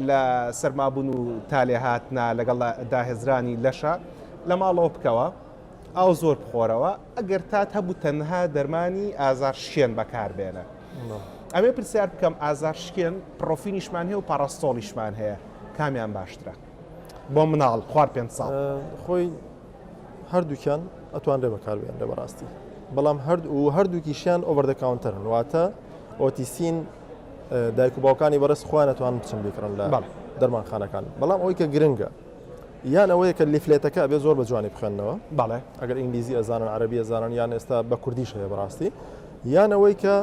لە سەرمابوون و تالێ هاتنا لەگەڵ داهێزرانی لەشە لە ماڵەوە بکەوە ئاو زۆر بخۆرەوە ئەگەر تات هەبوو تەنها دەرمانی ئازار شکێن بەکاربێنە ئەمێ پرسیار بکەم ئازار شکێن پرۆفینیشمان هەیە و پاراستۆڵیشمان هەیە کامیان باشترە بۆ مناڵ خوار پێ ساڵ خۆی هەردووکیان ئەتوانرێ بەکاربیێنرە بەڕاستی بەڵام هەرد و هەردووکیشیان ئۆبەردە کاونتەرن واتە ئۆتیسین دایک و باوکانی بەڕست خۆیان ئەتوان بچن بیکڕن لە دەرمانخانەکان بەڵام ئەوی کە گرنگە یان ئەوەیە کە لیفلێتەکە بێ زۆر بە جوانی بخێنەوە بەڵێ ئەگەر ئینگلیزی ئەزانن عربی ئەزانن یان ئێستا بە کوردیش هەیە بەڕاستی یان ئەوەی کە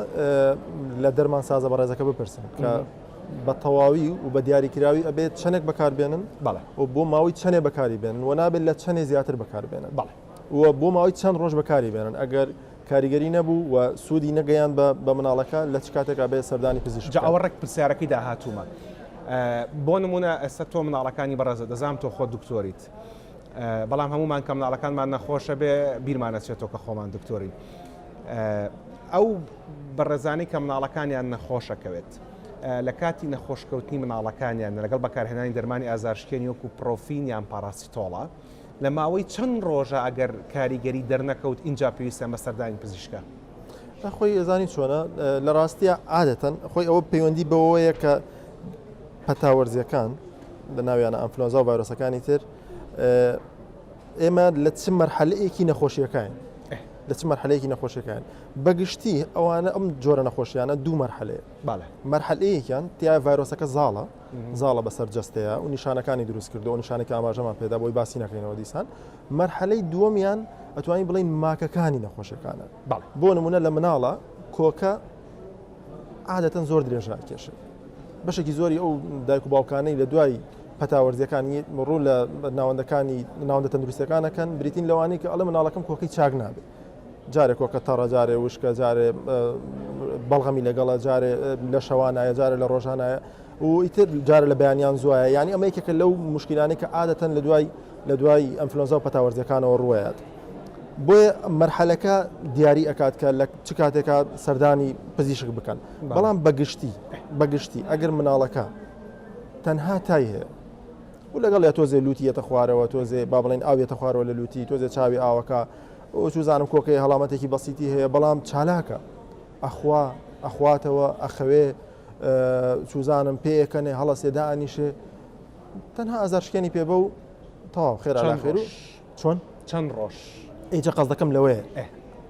لە دەرمان سازە بەڕێزەکە بپرسن کە بە تەواوی و بە دیاریکراوی ئەبێت چەنێک بەکار بێنن و بۆ ماوەی چەنێ بەکاری بێنن و نابێت لە چەنێ زیاتر بەکار بێنن و بۆ ماوەی چەند ڕۆژ بەکاری بێنن ئەگەر کاریگەری نەبوو و سوودی نەگەیاند بە مناڵەکە لە چ کاتێکا بێت سەردانی پزیشک بکات. جا ئەوە ڕێک پرسیارەکەی داهاتوومە بۆ نموونە ئێستا تۆ مناڵەکانی بەڕێزت دەزانم تۆ خۆت دکتۆریت بەڵام هەموومان کە مناڵەکانمان نەخۆشە بێ بیرمان ئەچێتەوە کە خۆمان دکتۆرین ئەو بەڕێزانەی کە مناڵەکانیان نەخۆشەکەوێت لە کاتی نەخۆش کەوتنی مناڵەکانیان نە لەگەڵ بەکارهێنانی دەرمانی ئازارشکێنی وەکو پرۆفین یان پاراسیتۆڵە لە ماوەی چەند ڕۆژە ئەگەر کاریگەری دەرنەکەوت ئینجا پێویستیان بە سەردانی پزیشکە. خۆی ئەزانی چۆنە لە ڕاستیە عادەتەن خۆی ئەوە پەیوەندی بەوەیە کە پەتاوەرزیەکان لە ناویانە ئەنفلۆنزا و ڤایرۆسەکانی تر ئێمە لە چ مەرحەلەیەکی نەخۆشیەکاین لە چ مەرحەلەیەکی نەخۆشیەکان بەگشتی ئەوانە ئەم جۆرە نەخۆشیانە دوو مەرحەلەیە مەرحەلەیەکیان تیا ڤایرۆسەکە زاڵە زاڵە بەسەر جستەیە و نیشانەکانی دروست کردو و نیشانەکە ئاماژەمان پێدا بۆی باسی نەکەینەوە دیسان مەرحەلەی دووەمیان ئەتوانین بڵین ماکەکانی نەخۆشەکانە بۆ نمونە لە مناڵە کۆکە عادەتەن زۆر درێژ ناکێشێت. بەشێکی زۆری ئەو دایک و باوکانەی لە دوای پەتاوەرزیەکانی ڕوو لە ناوەندەکانی ناوەندە تەندروستەکانەکەن بریتین لەوانی کە ئەڵێ مناڵەکەم کۆکەی چاک نابێت جارێ کۆکە تەڕە جارێ وشکە جارێ بەڵغەمی لەگەڵە جارێ لە شەوانایە جارە لە ڕۆژانایە و ئیتر جارە لە بەیانیان زوایە یعنی ئەمە یەکێکە لەو مشکلانەی کە عادەتەن لە دوای لە دوای ئەمفلۆنزا و پەتاوەرزەکانەوە ڕوایەت بۆیە مەرحەلەکە دیاری ئەکات کە لە چ کاتێکا سەردانی پزیشک بکەن بەڵام بەگشتی بەگشتی ئەگەر مناڵەکە تەنها تای هەیە و لەگەڵ یا تۆزێ لوتیەتە خوارەوە تۆزێ با بڵێن ئاوێتە خوارەوە لە لوتی تۆزێ چاوی ئاوەکە چوزانم کۆکەی هەڵامەتێکی بەسیتی هەیە بەڵام چالاکە ئەخوا ئەخواتەوە ئەخەوێ چوزانم پێەکەنێ هەڵەسێدا ئەنیشێ تەنها ئازارشکێنی پێ بە و تەواو خێرا خێرو چۆن؟ چەند ڕۆژ؟ ئیجا قەزدەکەم لەوەیە ئێ.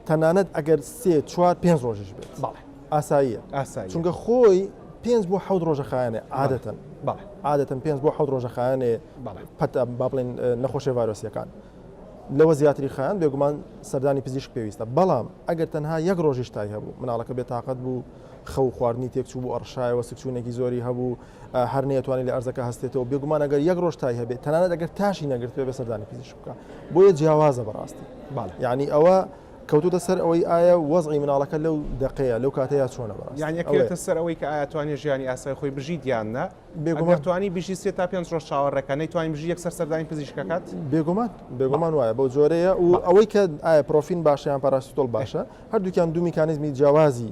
تەنانەت ئەگەر سێ چوار پێنج ڕۆژیش بێت بەڵێ ئاساییە ئاساییە چونکە خۆی پێنج بۆ حەوت ڕۆژە خایەنێ عادەتەن بەڵێ عادەتەن پێنج بۆ حەوت ڕۆژە خایەنێ بەڵێ پەتا با بڵێن نەخۆشیە ڤایرۆسیەکان لەوە زیاتری خایەن بێگومان سەردانی پزیشک پێویستە بەڵام ئەگەر تەنها یەک ڕۆژیش تای هەبوو مناڵەکە بێتاقەت بوو خەو خواردنی تێکچوو بوو ئەڕشایەوە سکچوونێکی زۆری هەبوو هەر نەیەتوانی لە ئەرزەکە هەستێتەوە بێگومان ئەگەر یەک ڕۆژ تای هەبێت تەنانەت ئەگەر تاشی نەگرتبێ بە سەردانی پزیشک بکە بۆیە جیاوازە بەڕاستی یعنی ئەوە کەوتوتە سەر ئەوەی ئایا وەزعی مناڵەکە لەو دقەیە لەو کاتەیە چۆنە بەڕاست یانەکەێتە سەر ئەوەی کە ئاەتوانێت ژیانی ئاسای خۆی بژی دیاننا بێگومانتوانی بژی سێ تا پێ ڕۆژ چاوەڕێکە نەیتوانین بژی یەک سەر سەردانی پزیشکەکات بێگومان بێگومان وایە بەو جۆرەیە و ئەوەی کە ئایا پرۆفین باشیان پاراستۆل باشە هەردووکیان دوو میکانزمی جیاوازی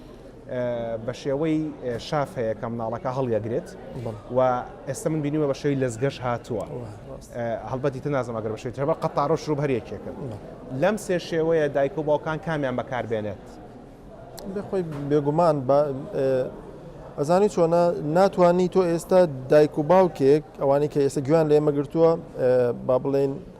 بە شێوەی شاف هەیە کە مناڵەکە هەڵیەگرێت و ئێستا من بینیوە بە شێوی لەزگەش هاتووە هەڵبەتی تنازم ئەگەر بەشێت ترەبە قەتارۆ شروب هەریەکێکن لەم سێ شێوەیە دایک و باوکان کامیان بەکاربێنێت بخۆی بێگومان ئەزانی چۆنە ناتوانانی تۆ ئێستا دایک و باوکێک ئەوانی کە ئێستا گویان لێمەگرتووە با بڵێن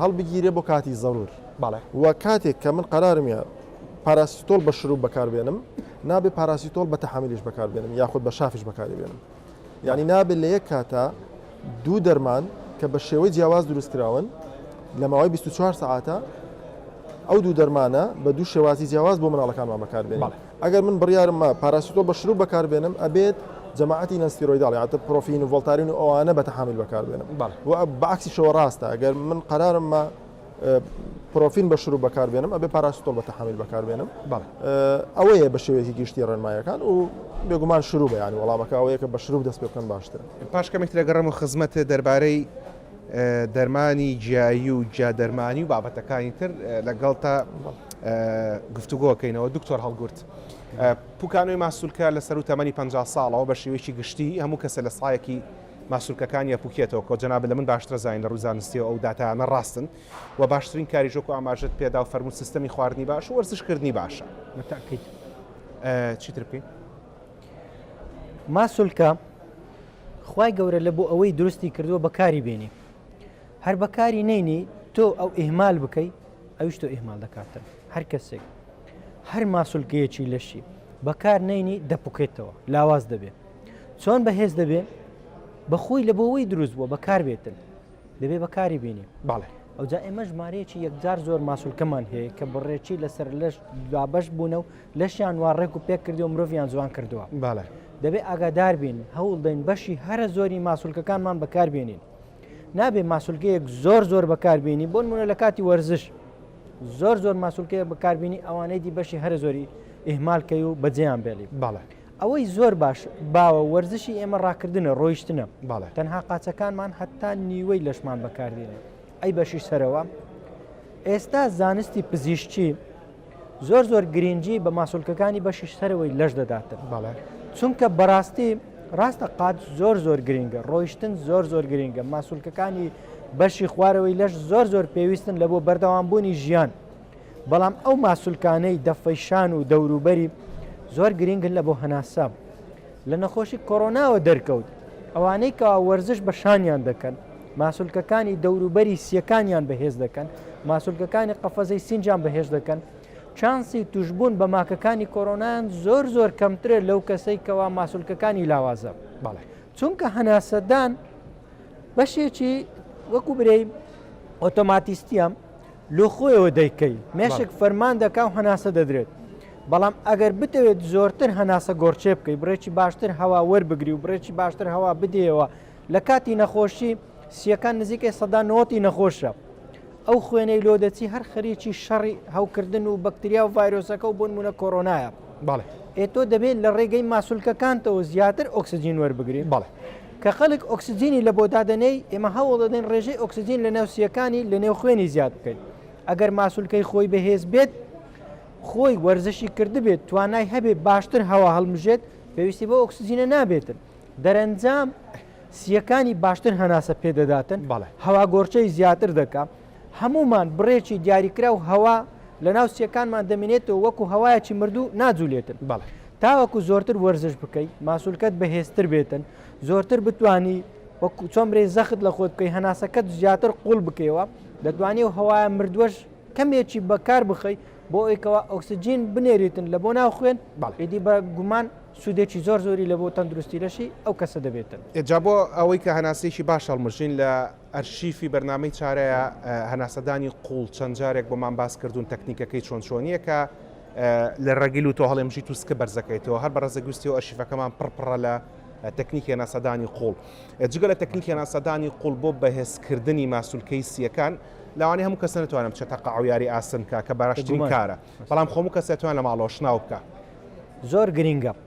هەڵبگیرێ بۆ کاتی زەرور بەڵێ. و کاتێک کە من قەرارمە پاراسیتۆل بە شروب بەکار بێنم نابێ پاراسیتۆل بە تەحامیلیش بەکار بێنم یاخود بە شافیش بەکاری بێنم یانی نابێ لە یەک کاتا دوو دەرمان کە بە شێوەی جیاواز دروست کراون لە ماوەی 24 سعاتە ئەو دوو دەرمانە بە دوو شێوازی جیاواز بۆ مناڵەکانمان بەکار بێنم. بەڵێ. ئەگەر من بڕیارم ما پاراسیتۆڵ بە شروب بەکار بێنم ئەبێت جەماعەتی نەن ستیرۆیداڵ یان ئەتە پرۆفین و ڤۆڵتارین و ئەوانە بە تەحامویل بەکار بێنم و بە عەکسیشەوە ڕاستە ئەگەر من قەرارم ما پرۆفین بە شروب بەکار بێنم ئەبێ پاراسیتۆڵ بە تەحامویل بەکار بێنم ئەوەیە بە شێوەیەکی گشتی ڕێنمایەکان و بێگومان شروبە یانی وەڵامەکە ئەوەیە کە بە شروب دەست پێ بکەن باشترە پاش کەمێک ترەگەڕەم و خزمەت دەربارەی دەرمانی جیایی و جیا دەرمانی و بابەتەکانی تر لەگەڵتا گفتوگۆ کەینەوە دکتۆر هەڵگورد پوکانۆی ماسولکە لە سەرو تەمەنی پ ساڵەوە بە شێوەیەکی گشتی هەموو کەسە لە سایەکی ماسولکەکان یا پوکێتەوە کۆ جەناب لە من باشتر زانین لە ڕوزانستی ئەو داتانە ڕاستن و باشترین کاری ژۆک و ئاماژت پێدا و فەرموو سیستەمی خواردنی باش و وەرزشکردنی باشە چیتر بکەین ماسولکە خوای گەورە لە بۆ ئەوەی دروستی کردووە بەکاری بێنی هەر بەکاری نینی تۆ ئەو ئیهمال بکەی ئەوش تۆ ئیهمال دەکاتن هەر کەسێک هەر ماسولکەیەکی لەشی بەکار نینی دەپکێتەوە لاواز دەبێت چۆن بەهێز دەبێت بەخۆی لە بۆەوەی دروست بووە بەکار بێتن دەبێ بەکاری بینی باڵێ ئەوجا ئێمە ژمارەیەکی یەکجار زۆر ماسولکەمان هەیە کە بڕێکی لەسەر لەش دوابش بوونە و لەشیان وا ڕێک و پێک کردو مرۆڤیان جوان کردووە باە دەبێ ئاگادار بین هەوڵ دەین بەشی هەرە زۆری ماسولکەکانمان بەکاربیێنین نابێ ماسولکەیەک زۆر زۆر بەکاربیێنی بۆن منە لە کاتی وەرزش زۆر زۆر ماسولکەیە بەکاربیێنی ئەوانەی دی بەشی هەرە زۆری ئیهمالکەی و بەجێیان بێلی باە ئەوەی زۆر باش باوە وەرزشی ئێمە ڕاکردنە ڕۆیشتنە باە تەنها قاچەکانمان هەتا نیوەی لەشمان بەکاردێنێ ئەی بەشی سەرەوە ئێستا زانستی پزیشتی زۆر زۆر گرنگی بە ماسولکەکانی بەشی سەرەوەی لەش دەدات بەڵێ چونکە بەڕاستی ڕاستە قات زۆر زۆر گرنگە ڕۆیشتن زۆر زۆر گرنگە ماسولکەکانی بەشی خوارەوەی لەش زۆر زۆر پێویستن لە بۆ بەردەوامبوونی ژیان بەڵام ئەو ماسولکانەی دەفەیشان و دەوروبەری زۆر گرنگن لە بۆ هەناسە لە نەخۆشی کۆرۆناوە دەرکەوت، ئەوانەی کەوا وەرزش بە شانیان دەکەن، ماسولکەکانی دەوروبەری سییەکانیان بەهێز دەکەن، ماسولکەکانی قەفەزەی سینجیان بەهێز دەکەن، چانسی توشبوون بە ماکەکانی کۆرۆنایان زۆر زۆر کەمترە لەو کەسەی کەوا ماسولکەکانی لاوازە. بەڵێ. چونکە هەناسەدان بەشێکی وەکو برێی ئۆتۆماتیستیە. لۆ خۆیەوە دەیکەی مێشک فەرمان دەکا و هەناسە دەدرێت بەڵام ئەگەر بتەوێت زۆرتر هەناسە گۆڕچێ بکەی بڕێکی باشتر هەوا وەربگری و بڕێکی باشتر هەوا بدەیەوە لە کاتی نەخۆشی سیەکان نزیکەی سەدا نۆتی نەخۆشە ئەو خوێنەی لۆ دەچی هەر خەریکی شەڕی هەوکردن و بەکتریا و ڤایرۆسەکە و بۆن مونە کۆرۆنایە بەڵێ ئێ تۆ دەبێت لە ڕێگەی ماسولکەکانتەوە زیاتر ئۆکسسیجین وەربگری بەڵێ کە خەڵک ئۆکسجینی لەبۆ دادەنێی، ئێمە هەوڵ دەدەین ڕێژەی ئۆکسجین لەناو سییەکانی لەنێو خوێنی زیاد بکەین. ئەگەر ماسولکەی خۆی بەهێز بێت، خۆی وەرزشی کردبێت، توانای هەبێت باشتر هەوا هەڵمژێت، پێویستی بەو ئۆکسجینە نابێتن. دەرەنجام سییەکانی باشتر هەناسە پێدەداتن، هەواگۆڕکێی زیاتر دەکات. هەموومان بڕێکی دیاریکراو هەوا لەناو سیەکانمان دەمینێتەوە وەکو هەوایەکی مردوو ناجولێتن بەڵێ تاوەکو زۆرتر وەرزش بکەی ماسولکەت بەهێزتر بێتن زۆرتر بتانی وەکو چۆمرەی زەخت لە خۆت بکەی هەناسەکەت زیاتر قوڵ بکەیەوە دەتوانێت و هەوایە مردوەش کەمێکی بەکار بخەی بۆ ئەوکەوە ئۆکسسیجین بنێریتن لە بۆ ناو خوێن بەڵێدی بە گومان سوودێکی زۆر زۆری لە بۆ تەندروستی لەشی ئەو کەسە دەبێتن ئێجا بۆ ئەوەی کە هەناسێکی باش هەڵمژین لە ئەرشیفی بەرنامەی چارەیە هەناسەدانی قوڵ چەند جارێک بۆمان باس کردوون تەکنیکەکەی چۆن چۆنیە کە لە ڕەگیل و تۆهەڵێمژیت و سکە بەرزەکەیتەوە هەر بە ڕەزەگوستی و ئەرشیفەکەمان پڕپڕە لە تەکنیکی هەناسەدانی قوڵ جگە لە تەکنیکی هەناسەدانی قوڵ بۆ بەهێزکردنی ماسولکەی سیەکان لەوانی هەموو کەس نتوانم چە تەقع و یاری ئاسن بکە کە باراشترین کارە بەڵام خۆمو کەسێتوان لە ماڵۆشناو بکە زۆر گرنگە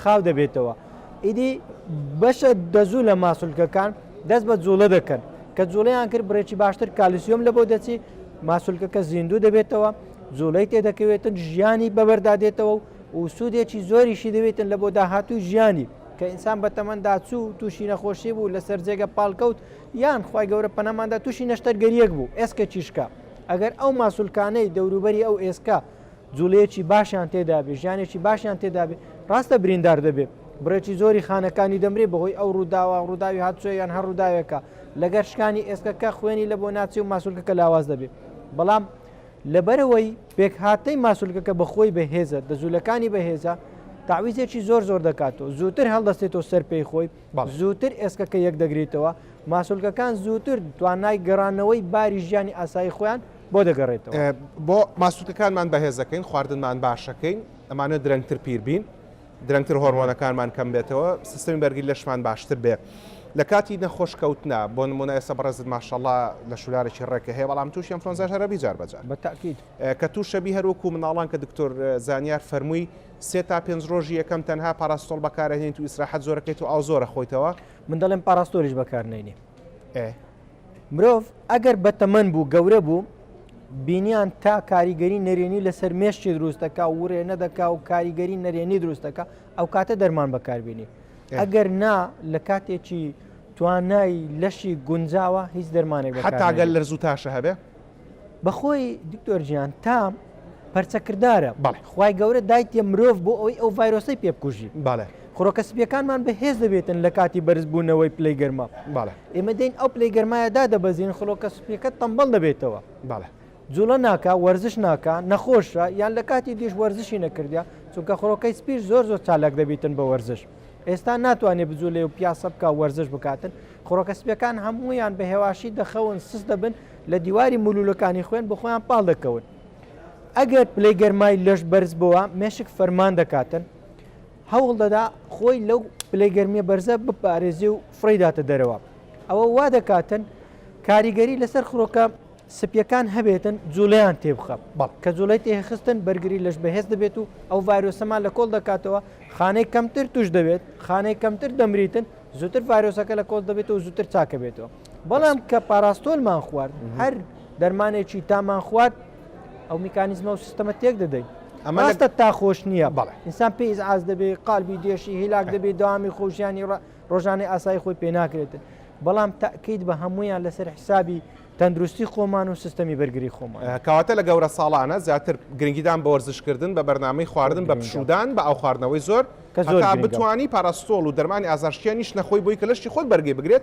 خاو دەبێتەوە ئیدی بەشە دەزوو لە ماسولکەکان دەست بە جوڵە دەکەن کە جوڵەیان کرد بڕێکی باشتر کالیسیۆم لە بۆ دەچی ماسولکەکە زیندوو دەبێتەوە جوڵەی تێدەکەوێتن ژیانی بەبەردا دێتەوە و سوودێکی زۆریشی دەوێتن لە بۆ داهاتوو ژیانی کە ئینسان بە تەمەندا چوو تووشی نەخۆشی بوو لەسەر جێگە پاڵکەوت یان خی گەورە پەنەماندا تووشی نەشتەرگەریەک بوو ئێسکە چیشکە ئەگەر ئەو ماسولکانەی دەوروبەری ئەو ئێسکە جوڵەیەکی باشیان تێدا بێ، ژیانێکی باشیان تێدا بێ، ڕاستە بریندار دەبێ، بڕێکی زۆری خانەکانی دەمرێ بەهۆی ئەو ڕووداوە، ڕووداوی هاتچۆ یان هەر ڕووداوێکە، لەگەر شکانی ئێسکەکە خوێنی لە بۆ ناچێ و ماسولکەکە لاواز دەبێ، بەڵام لەبەرئەوەی پێکهاتەی ماسولکەکە بە خۆی بەهێزە، دە جوولەکانی بەهێزە، تەعویزێکی زۆر زۆر دەکاتەوە، زووتر هەڵدەستێتەوە سەر پێی خۆی، زووتر ئێسکەکە یەک دەگریتەوە، ماسولکەکان زووتر توانای گەڕانەوەی باری ژیانی ئاسایی خۆیان بۆ دەگەڕێتەوە؟ بۆ ماسولکەکانمان بەهێز دەکەین، خواردنمان باشەکەین، ئەمانە درەنگتر پیر بین، درەنگتر هۆرمۆنەکانمان کەم بێتەوە، سیستمی بەرگری لەشمان باشتر بێ. لە کاتی نەخۆش کەوتنا، بۆ نمونە ئێستا بەڕێزت ماشاءاللە لە شولارێکی ڕێکە هەیە، بەڵام تووشی ئەنفلۆنزاش هەر ئەبی جار بە جار. بەتەئکید. کە تووش ئەبی هەر وەکوو منداڵان کە دکتۆر زانیار فەرمووی سێ تا پێنج ڕۆژی یەکەم تەنها پاراستۆڵ بەکار ئەهێنیت و ئیسراحەت زۆر ئەکەیت و ئاو زۆر ئەخۆیتەوە. من دەڵێم پاراستۆلیش بەکار نەینێ. ئێ. مرۆڤ ئەگەر بەتەمەن بوو گەورە بوو بینیان تا کاریگەری نەرێنی لەسەر مێشتی دروستەکە و وڕێ نەدەکا و کاریگەری نەرێنی دروستەکە ئەو کاتە دەرمان بەکاربیێنی ئەگەر نا لە کاتێکی توانای لەشی گونجاوە هیچ دەرمانێک حتاگەل لەرزوو تاشە هەبێ بەخۆی دکتۆر جیان تا پەرچەکردارە بەڵێ خی گەورە دایتە مرۆڤ بۆ ئەوی ئەو ڤایرۆسی پێ بکوژی بەڵێ خڕۆکە سپیەکانمان بەهێز دەبێتن لە کاتی بەرزبوونەوەی پلی گەرما بەڵێ ئێمە دەین ئەو پلی گەرمایەدا دەبەزین خڵۆکە سپیەکە تەمبەڵ دەبێتەوە بەڵێ جوڵە ناکە وەرزش ناکە نەخۆشە یان لە کاتی دیش وەرزشی نەکردە چونکە خڕۆکەی سپیر زۆر زۆر چالاک دەبیتن بە وەرزش ئێستا ناتوانێت بجوولێ و پیاسە بکە وەرزش بکاتن خڕۆکە سپیەکان هەموویان بە هێواشی دەخەون سست دەبن لە دیواری مولولەکانی خوێن بە خۆیان پاڵ دەکەون ئەگەر پلەی گەرمای لەش بەرز بووە مێشک فەرمان دەکاتن هەوڵ دەدا خۆی لەو پلەی گەرمیە بەرزە بپارێزی و فڕیداتە دەرەوە ئەوە وا دەکاتن کاریگەری لەسەر خڕۆکە سپیەکان هەبێتن جوڵیان تێبخە بەڵ کە جوڵی تێخستن بەرگری لەش بەهێز دەبێت و ئەو ڤایرۆسەمان لە کۆڵ دەکاتەوە خانەی کەمتر توش دەبێت خانەی کەمتر دەمریتن زووتر ڤایرۆسەکە لە کۆڵ دەبێت و زووتر چاکە بێتەوە بەڵام کە پاراستۆلمان خوارد هەر دەرمانێکی تامان خوارد ئەو میکانیزمە و سیستەمە تێک دەدەین ئەمە لەستە تا خۆش نییە بەڵێ ئینسان پێی ئاز دەبێ قالبی دێشی هیلاک دەبێ داوامی خۆشیانی ڕۆژانەی ئاسایی خۆی پێ ناکرێتن بەڵام تاکەیت بە هەمویان لەسەر حسابی تەندروستی خۆمان و سیستەمی بەرگری خۆمان کەواتە لە گەورە ساڵانە زیاتر گرنگیدان بە وەرزشکردن بە بەرنمەی خواردن بە پشودان بە ئەو خواردنەوەی زۆر کە زۆر بتانی پاراستۆڵ و دەرمانی ئازارشکیانیش نەخۆی بۆی کە لەشتی خۆت بەرگی بگرێت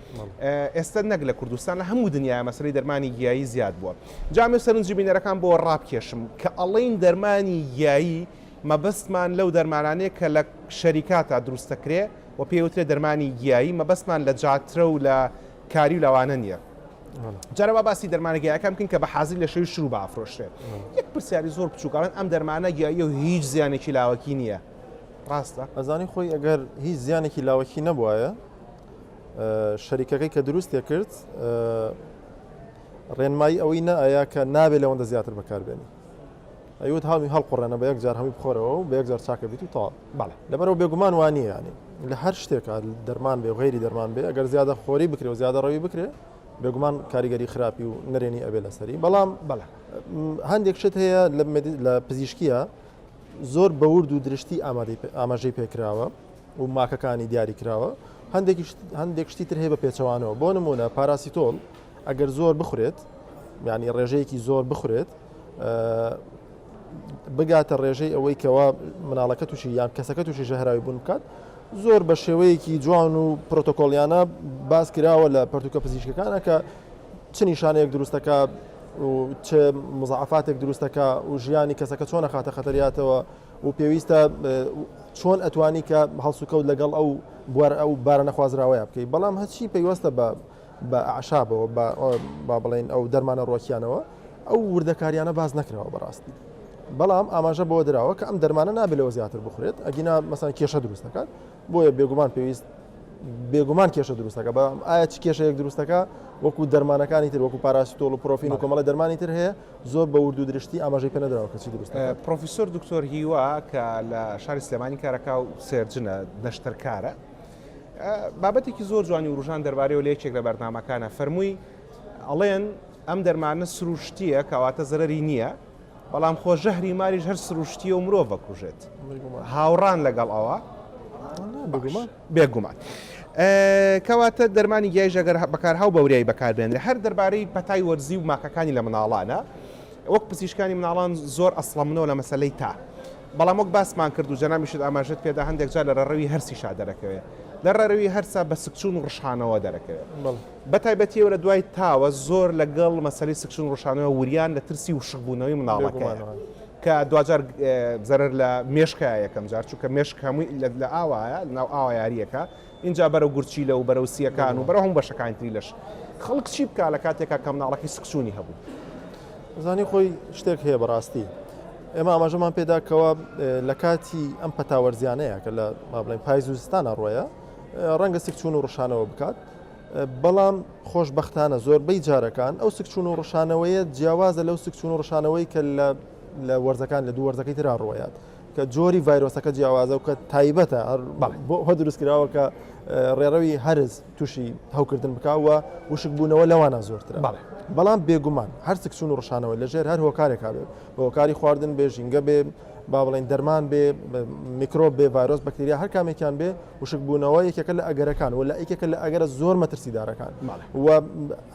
ئێستە نەک لە کوردستان لە هەموو دنیا مەسەی دەرمانی گیایی زیاد بووە جامی و سەرنجی بینەرەکان بۆ ڕابکێشم کە ئەڵین دەرمانی گیایی مەبەستمان لەو دەرمانانەیە کە لە شەریکاتا دروستەکرێ و پێوترێ دەرمانی گیایی مەبەستمان لە جاترە و لە کاری و لەوانە نییە. جارەوە باسی دەرمانەگەیەکان بکەین کە بە حازی لە شەوی شروع بافرۆشرێت یەک پرسیاری زۆر بچووکڵێن ئەم دەرمانە گیایی و هیچ زیانێکی لاوەکی نییە ڕاستە ئەزانی خۆی ئەگەر هیچ زیانێکی لاوەکی نەبواە شەریکەکەی کە دروستی کرد ڕێنمایی ئەوەی نەئەیا کە نابێت لەوەندە زیاتر بەکاربێنی ئەیوت هامی هەڵقڕێنە بە یەکجار هەمی بخۆرەوە و بە یەکجار چاکە بیت و تا بەڵێ لەبەرەوە بێگومان وانە ینی لە هەر شتێکە دەرمان بێ غێری دەرمان بێ ئەگەر زیادە خۆری بکرێ و زیادە ڕەوی بکرێ بێگومان کاریگەری خراپی و نەرێنی ئەبێ لەسەری بەڵام بەڵێ هەندێک شت هەیە لە پزیشکیە زۆر بەورد و درشتی ئاماژەی پێکراوە و ماکەکانی دیاریکراوە، هەندێکیش هەندێک شتی تر هەیە بە پێچەوانەوە، بۆ نموونە پاراسیتۆل ئەگەر زۆر بخورێت یعنی ڕێژەیەکی زۆر بخورێت بگاتە ڕێژەی ئەوەی کەوا مناڵەکە تووشی یان کەسەکە تووشی ژەهراوی بوون بکات زۆر بە شێوەیەکی جوان و پرۆتۆکۆلیانە باس کراوە لە پرتوکە پزیشکەکانە کە چ نیشانەیەک دروستەکە و چ مزعفاتێک دروستەکە و ژیانی کەسەکە چۆنە خاتە خەتەریاتەوە و پێویستە چۆن ئەتوانی کە هەڵسوکەوت لەگەڵ ئەو بوار ئەو بارە نەخوازراوەیە بکەیت بەڵام هەچی پەیوەستە بە بە عشابەوە با بڵێن ئەو دەرمانە ڕۆکیانەوە ئەو وردەکاریانە باز نەکراوە بەڕاستی بەڵام ئاماژە بۆ دراوە کە ئەم دەرمانە نابلەوە زیاتر بخورێت ئەگینا مەسان کێشە دروست دەکات بۆیە بێگومان پێویست بێگومان کێشە دروستەکە بە ئایا چ کێشەیەک دروستەکە وەکو دەرمانەکانی تر وەکو پاراسیتۆڵ و پرۆفین و کۆمەڵە دەرمانی تر هەیە زۆر بە وردو درشتی ئاماژەی پێ نەدراوە کە چی دروست دەکات. پرۆفیسۆر دکتۆر هیوا کە لە شاری سلێمانی کارەکا و سێرجنە نەشتەرکارە بابەتێکی زۆر جوانی وروژان دەربارەیەوە لە یەکێک لە بەرنامەکانە فەرمووی ئەڵێن ئەم دەرمانە سروشتیە کەواتە زەرری نییە بەڵام خۆ ژەهری ماریش هەر سروشتیە و مرۆڤ بەکوژێت هاوڕان لەگەڵ ئەوە بگومان بێ گومان. کەواتە دەرمانی گیایش ئەگەر بەکارهاو بە وریایی بەکار بێنرێ هەر دەربارەی پەتای وەرزی و ماکەکانی لە مناڵانە وەک پزیشکانی مناڵان زۆر ئەسڵەمنەوە لە مەسەلەی تا بەڵام وەک باسمان کرد و جەنابیشت ئاماژەت پێدا هەندێک جار لە ڕەڕەوی هەرسیشا دەرەکەوێ لە ڕەروی هەرسا بە سکچون و ڕشانەوە دەرەکەوێ بە تایبەتیەوە لە دوای تاوە زۆر لەگەڵ مەسەلی سکچون ڕشانەوە وریان لە ترسی و شخبوونەوەی مناڵەکە. کە دواجار زەرەر لە مێشکە یەکەم جار چونکە مێشک هەمووی لە ئاوایە لەناو ئاوا یاریەکە ئینجا بەرەو گورچیلە و بەرەو سیەکان و بەرەو هەموو بەشەکانی تری لەش خەڵک چی بکا لە کاتێکا کە مناڵەکەی سکچوونی هەبوو زانی خۆی شتێک هەیە بەڕاستی ئێمە ئاماژەمان پێدا کەەوە لە کاتی ئەم پەتاوەرزیانەیە کە لە مابلین پایز و زستانە ڕۆیە ڕەنگە سکچون و ڕشانەوە بکات بەڵام خۆشبەختانە زۆربەی جارەکان ئەو سکچوون و ڕشانەوەیە جیاوازە لەو سکچوون و ڕشانەوەی کە لە وەرزەکان لە دوو وەرزەکەی تررا ڕوەیات کە جۆری ڤایرۆسەکە جیاوازە و کە تایبەتە هەر دروستکراوە کە ڕێڕەوی هەرز تووشی هەوکردن بکوە وشک بوونەوە لەوانە زۆرتر بەڵام بێگومان هەر سکچون و ڕشانەوە لەژێر هەر هۆکارێکا بێت بۆکاری خواردن بێژینگە بێ با بڵێن دەرمان بێ میکرۆ بێ ڤایرۆس بەکتریا هەر کامێکیان بێ وشک بوونەوە یەکێکە لە ئەگەرەکان و لە یەکێکە لە ئەگەرە زۆر مەترسیدارەکان و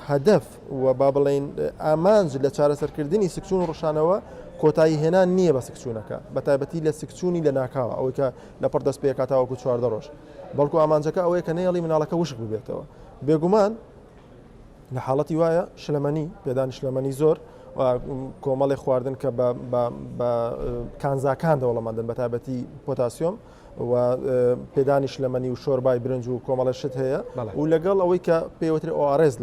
هەدەف و با بڵێین ئامانج لە چارەسەرکردنی سکچون و ڕشانەوە کۆتایی هێنان نییە بە سکچونەکە بە تایبەتی لە سکچونی لە ناکاوە ئەوەی کە لە پڕ دەست پێکات تاوەکو چواردە ڕۆژ بەڵکو ئامانجەکە ئەوەیە کە نەیەڵی مناڵەکە وشک ببێتەوە بێگومان لە حاڵەتی وایە شلەمەنی پێدانی شلەمەنی زۆر کۆمەڵی خواردن کە بە کانزاکان دەوڵەمەندن بە تابەتی پۆتاسیۆم و پێدانی شلەمەنی و شۆربای برنج و کۆمەڵە شت هەیە و لەگەڵ ئەوەی کە پێوەتر ئۆارێز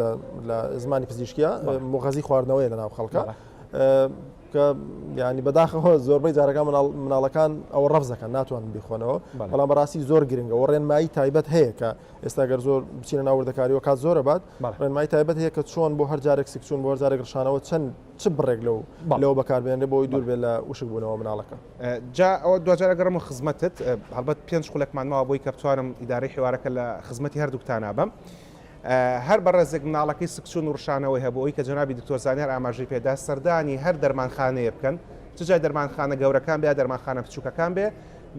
لە زمانی پزیشکیا مغەزی خواردنەوەی لە ناو خەڵکە کە ینی بەداخەوە زۆربەی جارەکان مناڵەکان ئەو ڕەفزەکە ناتوان بیخۆنەوە بەڵام بەڕاستی زۆر گرنگە و ڕێنمایی تایبەت هەیە کە ئێستا گەر زۆر بچینە ناوردەکاریەوە کات زۆرە بات ڕێنمای تایبەت هەیە کە چۆن بۆ هەر جارێک سکچون بۆ جارێک ڕشانەوە چەند چ بڕێک لەو لەوە بەکاربێنێ بۆی دوور بێت لە وشک بوونەوە مناڵەکە. جا ئەوە دواجار ئەگەڕێمەوە خزمەتت، هەڵبەت پێنج خولەکمان ماوە بۆی کە بتوانم ئیدارەی حیوارەکە لە خزمەتی هەردووکتانا بم. هەر بە ڕێزێک مناڵەکەی سکچوون و ڕشانەوەی هەبوو، ئەوەی کە جەنابی دکتۆر زانیار ئاماژەی پێ دا، سەردانی هەر دەرمانخانەیە بکەن، چ جای دەرمانخانە گەورەکان بێ یا دەرمانخانە بچووکەکان بێ،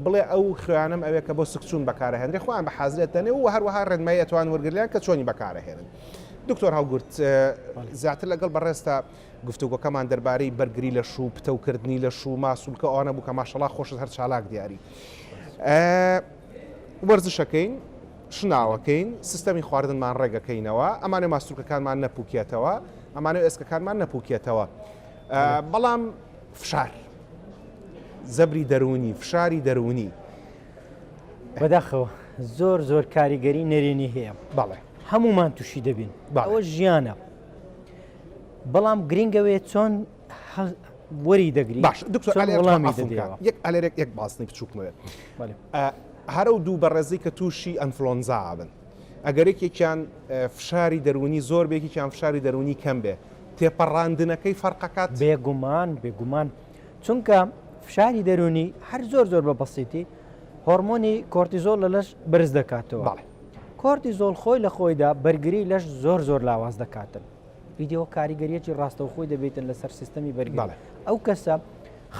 بڵێ ئەو خوێیانەم ئەوێ کە بۆ سکچوون بەکار ئەهێنرێ، خۆیان بە حازر ئەتدەنێ و هەروەها ڕێنمایی ئەتوان وەرگری لێیان کە چۆنی بەکار ئەهێنن. دکتۆر هەڵگورد، زیاتر لەگەڵ بەڕێزتا. گفتوگۆکەمان دەربارەی بەرگری لەش و پتەو کردنی لەش و ماسولکە ئەوانە بوو کە ماشەڵا خۆشت هەر چالاک دیاری وەرزشەکەین شناوەکەین سیستەمی خواردنمان ڕێگەکەینەوە ئەمانە ماسولکەکانمان نەپوکێتەوە ئەمانە ئێسکەکانمان نەپوکێتەوە بەڵام فشار زەبری دەروونی فشاری دەروونی بەداخەوە زۆر زۆر کاریگەری نەرێنی هەیە بەڵێ هەمومان تووشی دەبین باوە ژیانە بەڵام گرنگە وێ چۆن وەری دەگری باش یەک ئەلێرێک یەک باسنی بچووکمەوێت هەرە و دوو بەڕێزی کە تووشی ئەنفلۆنزا بن ئەگەرێکێکیان فشاری دەرونی زۆر بێکیان فشاری دەرونی کەم بێ تێپەڕاندنەکەی فەرقەکات بێگومان بێگومان چونکە فشاری دەرونی هەر زۆر زۆر بە بەسیتی هۆرمۆنی کۆرتیزۆل لە لەش برز دەکاتەوە کۆرتیزۆڵ خۆی لە خۆیدا بەرگری لەش زۆر زۆر لاواز دەکاتن ویددیو کاریگەریەکی ڕاستەوخۆی دەبێتن لەسەر سیستەمی بەرگڵە ئەو کەسە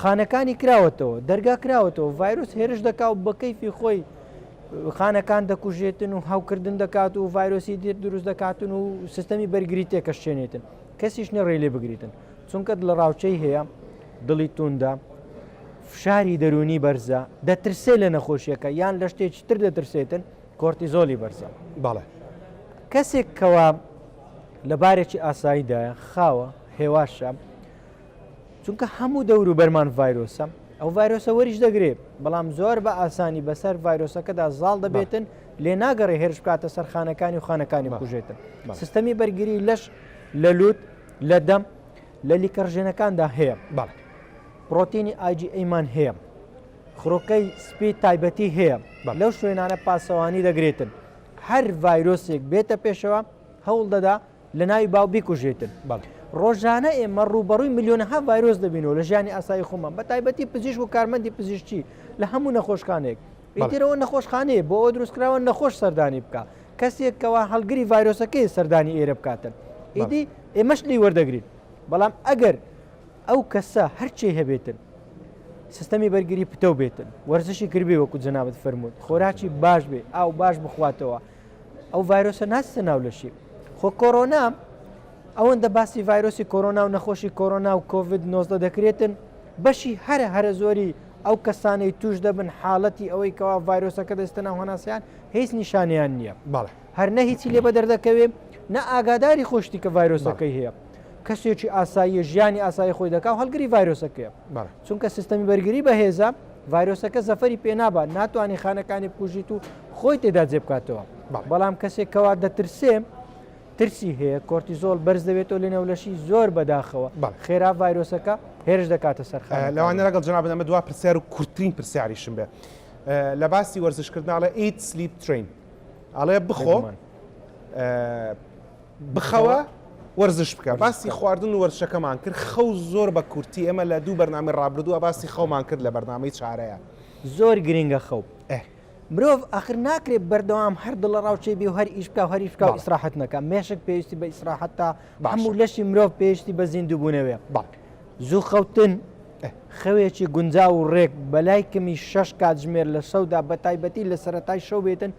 خانەکانی کراوەتەوە دەرگا کراوەتەوە ڤایرۆس هێرش دەکا و بە کەیفی خۆی خانەکان دەکوژێتن و هاوکردن دەکات و ڤایرۆسی دێت دروست دەکاتن و سیستەمی بەرگری تێکەشێنێتن کەسیش نەڕێ لێ بگریتن چونکە دڵەڕاوکێی هەیە، دڵی تووندە، فشاری دەروونی بەرزە، دەترسێت لە نەخۆشییەکە یان لە شتێکی تر دەترسێتن، کۆرتیزۆلی بەرزە. بەڵێ. کەسێک کەوا لە بارێکی ئاساییدایە، خاوە، هێواشە، چونکە هەموو دەوروبەرمان ڤایرۆسە، ئەو ڤایرۆسە وەریش دەگرێ، بەڵام زۆر بە ئاسانی بەسەر ڤایرۆسەکەدا زاڵ دەبێتن، لێ ناگەڕێ هێرش بکاتە سەر خانەکانی و خانەکانی بکوژێتن. سیستەمی بەرگری لەش لە لووت. لە دەم لە لیکەڕژێنەکاندا هەیە بەڵ پرۆتینی ئاجی ئەیمان هەیە خڕۆکەی سپی تایبەتی هەیە بە لەو شوێنانە پاسەوانی دەگرێتن هەر ڤایرۆسێک بێتە پێشەوە هەوڵ دەدا لە ناوی باو بیکوژێتن بەڵ ڕۆژانە ئێمە ڕوبەڕووی میلیۆنها ڤایرۆس دەبینەوە لە ژیانی ئاسایی خۆمان بە تایبەتی پزیشک و کارمەندی پزیشتی لە هەموو نەخۆشخانێک ئیتر ئەوە نەخۆشخانەیە بۆ ئەوە دروستکراوە نەخۆش سەردانی بکە کەسێک کەوا هەڵگری ڤایرۆسەکەی سەردانی ئێرە بکاتن ئیدی ئێمەش لی وەردەگرین بەڵام ئەگەر ئەو کەسە هەرچی هەبێتن سیستەمی بەرگری پتەو بێتن وەرزشی کردبێ وەکو جەنابەت فەرمووت خۆراکی باش بێ ئاو باش بخواتەوە ئەو ڤایرۆسە ناستە ناو لەشی خۆ کۆرۆنا ئەوەندە باسی ڤایرۆسی کۆرۆنا و نەخۆشی کۆرۆنا و کۆVید 19 دەکرێتن بەشی هەرە هەرە زۆری ئەو کەسانەی توش دەبن حاڵەتی ئەوەی کەوا ڤایرۆسەکە دەستە ناو هەناسیان هیچ نیشانیان نییە بەڵێ هەر نە هیچی لێ بە دەردەکەوێ نە ئاگاداری خۆشتی کە ڤایرۆسەکەی هەیە کەسێکی ئاساییە ژیانی ئاسایی خۆی دەکا و هەلگری ڤایرۆسەکەیە چونکە سیستەمی بەرگری بەهێزە ڤایرۆسەکە زەفەری پێنابات ناتوانانی خانەکانی بکوژیت و خۆی تێدا جێ بکاتەوە بەڵام کەسێکەوە دەترسێ ترسی هەیە کۆرتیزۆڵ بەرز دەبێتەوە لە نێو لەشی زۆر بەداخەوە خێرا ڤایرۆسەکە هێرش دەکاتە سەر خانەکانی. لەوانە لەگەڵ جەنابت ئەمە دوا پرسیار و کورتترین پرسیاریشم بێ لە باسی وەرزشکردن ئەڵێ eat sleep train ئەڵێ بخۆ بخەوە وەرزش بکە باسی خواردن و وەرزشەکەمان کرد خەو زۆر بە کورتی ئێمە لە دوو بەرنامەی ڕابردووە باسی خەومان کرد لە بەرنامەی چارەیە زۆر گرنگە خەو مرۆڤ ئاخر ناکرێت بەردەوام هەر دڵەڕاوکێ بێ و هەر ئیش بکا و هەر ئیش بکا و ئیسراحەت نەکا مێشک پێویستی بە ئیسراحەت تا بەعام و لەشی مرۆڤ پێویستی بە زیندووبوونەوەیە زوو خەوتن خەوێکی گونجاو و ڕێک بەلای کەمی شەش کاتژمێر لە شەودا بە تایبەتی لە سەرەتای شەو بێتن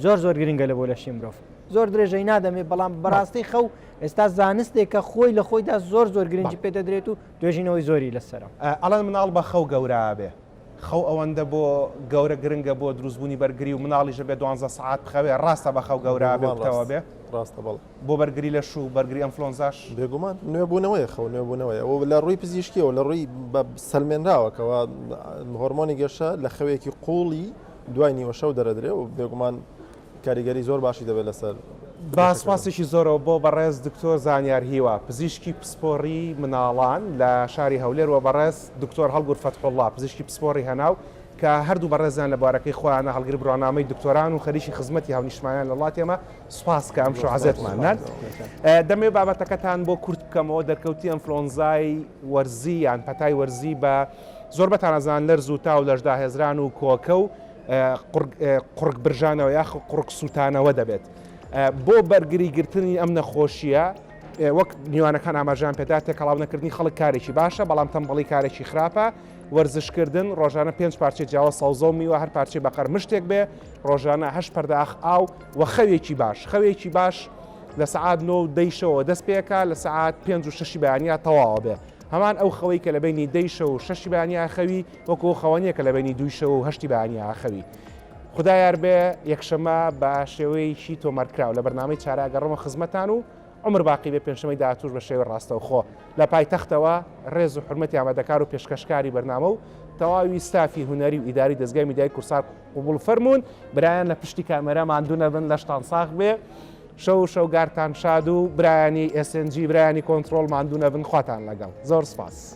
زۆر زۆر گرنگە لە بۆ لەشی مرۆڤ زۆر درێژەی نادەمێ بەڵام بەڕاستی خەو ئێستا زانستێکە خۆی لە خۆیدا زۆر زۆر گرنگی پێدەدرێت و توێژینەوەی زۆری لەسەرە ئەڵەن مناڵ بە خەو گەورابێ خەو ئەوەندە بۆ گەورە گرنگە بۆ دروست بوونی بەرگری و مناڵیش بێ دوانزە سەعات بخەوێ ڕاستە بە خەو گەورە بێ بتەوە بێ ڕاستە بەڵ بۆ بەرگری لە شوو بەرگری ئەمفلۆنزاش بێگومان نوێبوونەوەی خەو نوێبوونەوەی ئەو لە ڕووی پزیشکیەوە لە ڕووی بە سلمێنراوەکەەوە هۆرمۆنی گەشە لە خەوێکی قوڵی دوای نیوەشەو دەرەدرێ و بێگومان کاریگەری زۆر باشی دەبێت لەسەر. با سوپاسێکی زۆرەوە بۆ بەڕێز دکتۆر زانیار هیوا پزیشکی پسپۆڕی مناڵان لە شاری هەولێر و بەڕێز دکتۆر هەڵگور فەتحوڵڵا پزیشکی پسپۆڕی هەناو کە هەردوو بەڕێزیان لە بوارەکەی خۆیانە هەڵگری بڕوانامەی دکتۆران و خەریکی خزمەتی هاونیشتمانیان لە وڵاتی ئێمە سوپاس کە ئەمشۆ عەزێتمان نان دەمەوێت بابەتەکەتان بۆ کورت بکەمەوە دەرکەوتی ئەنفلۆنزای وەرزی یان پەتای وەرزی بە زۆر بەتانەزان لەرز و تا و لەشداهێزران و کۆکە و قوڕگبرژانەوە یاخود قوڕگسووتانەوە دەبێت. بۆ بەرگریگرتنی ئەم نەخۆشییە، وەک میوانەکان ئاماژەیان پێدا، تێکەڵاونەکردنی خەڵک کارێکی باشە، بەڵام تەمبەڵی کارێکی خراپە. وەرزشکردن، ڕۆژانە پێنج پارچەی جیاواز سەوزە و میوە، هەر پارچەی بە قەرمشتێک بێ، ڕۆژانە هەشت پەرداخ ئاو و خەوێکی باش. خەوێکی باش لە سەعات نۆ و دەی شەوەوە دەست پێکا، لە سەعات پێنج و شەشی بەیانیا تەواوە بێ. هەمان ئەو خەوەی کە لە بەینی دەی شەو و شەشی بەیانیا خەوی، وەکو ئەو خەوانیە کە لەبەینی دووی شەو و هەشتی بەیانیە ئاخەوی. خودا یار بێ یەکشەمە بە شێوەیەکی تۆمارکراو لە بەرنامەی چارە ئەگەڕێمەوە خزمەتان و عومر باقی بێ پێنجشەمەی داهاتووش بە شێوەی ڕاستەوخۆ لە پایتەختەوە ڕێز و حورمەتی ئامادەکار و پێشکەشکاری بەرنامە و تەواوی ستافی هونەری و ئیداری دەزگای میدیای کوردسات قبوڵ فەرموون برایان لە پشتی کامێرا ماندوو نەبن لەشتان ساغ بێ شەو و شەوگارتان شاد و برایانی ئێس ئێن جی برایانی کۆنتڕۆڵ ماندوو نەبن خواتان لەگەڵ زۆر سپاس.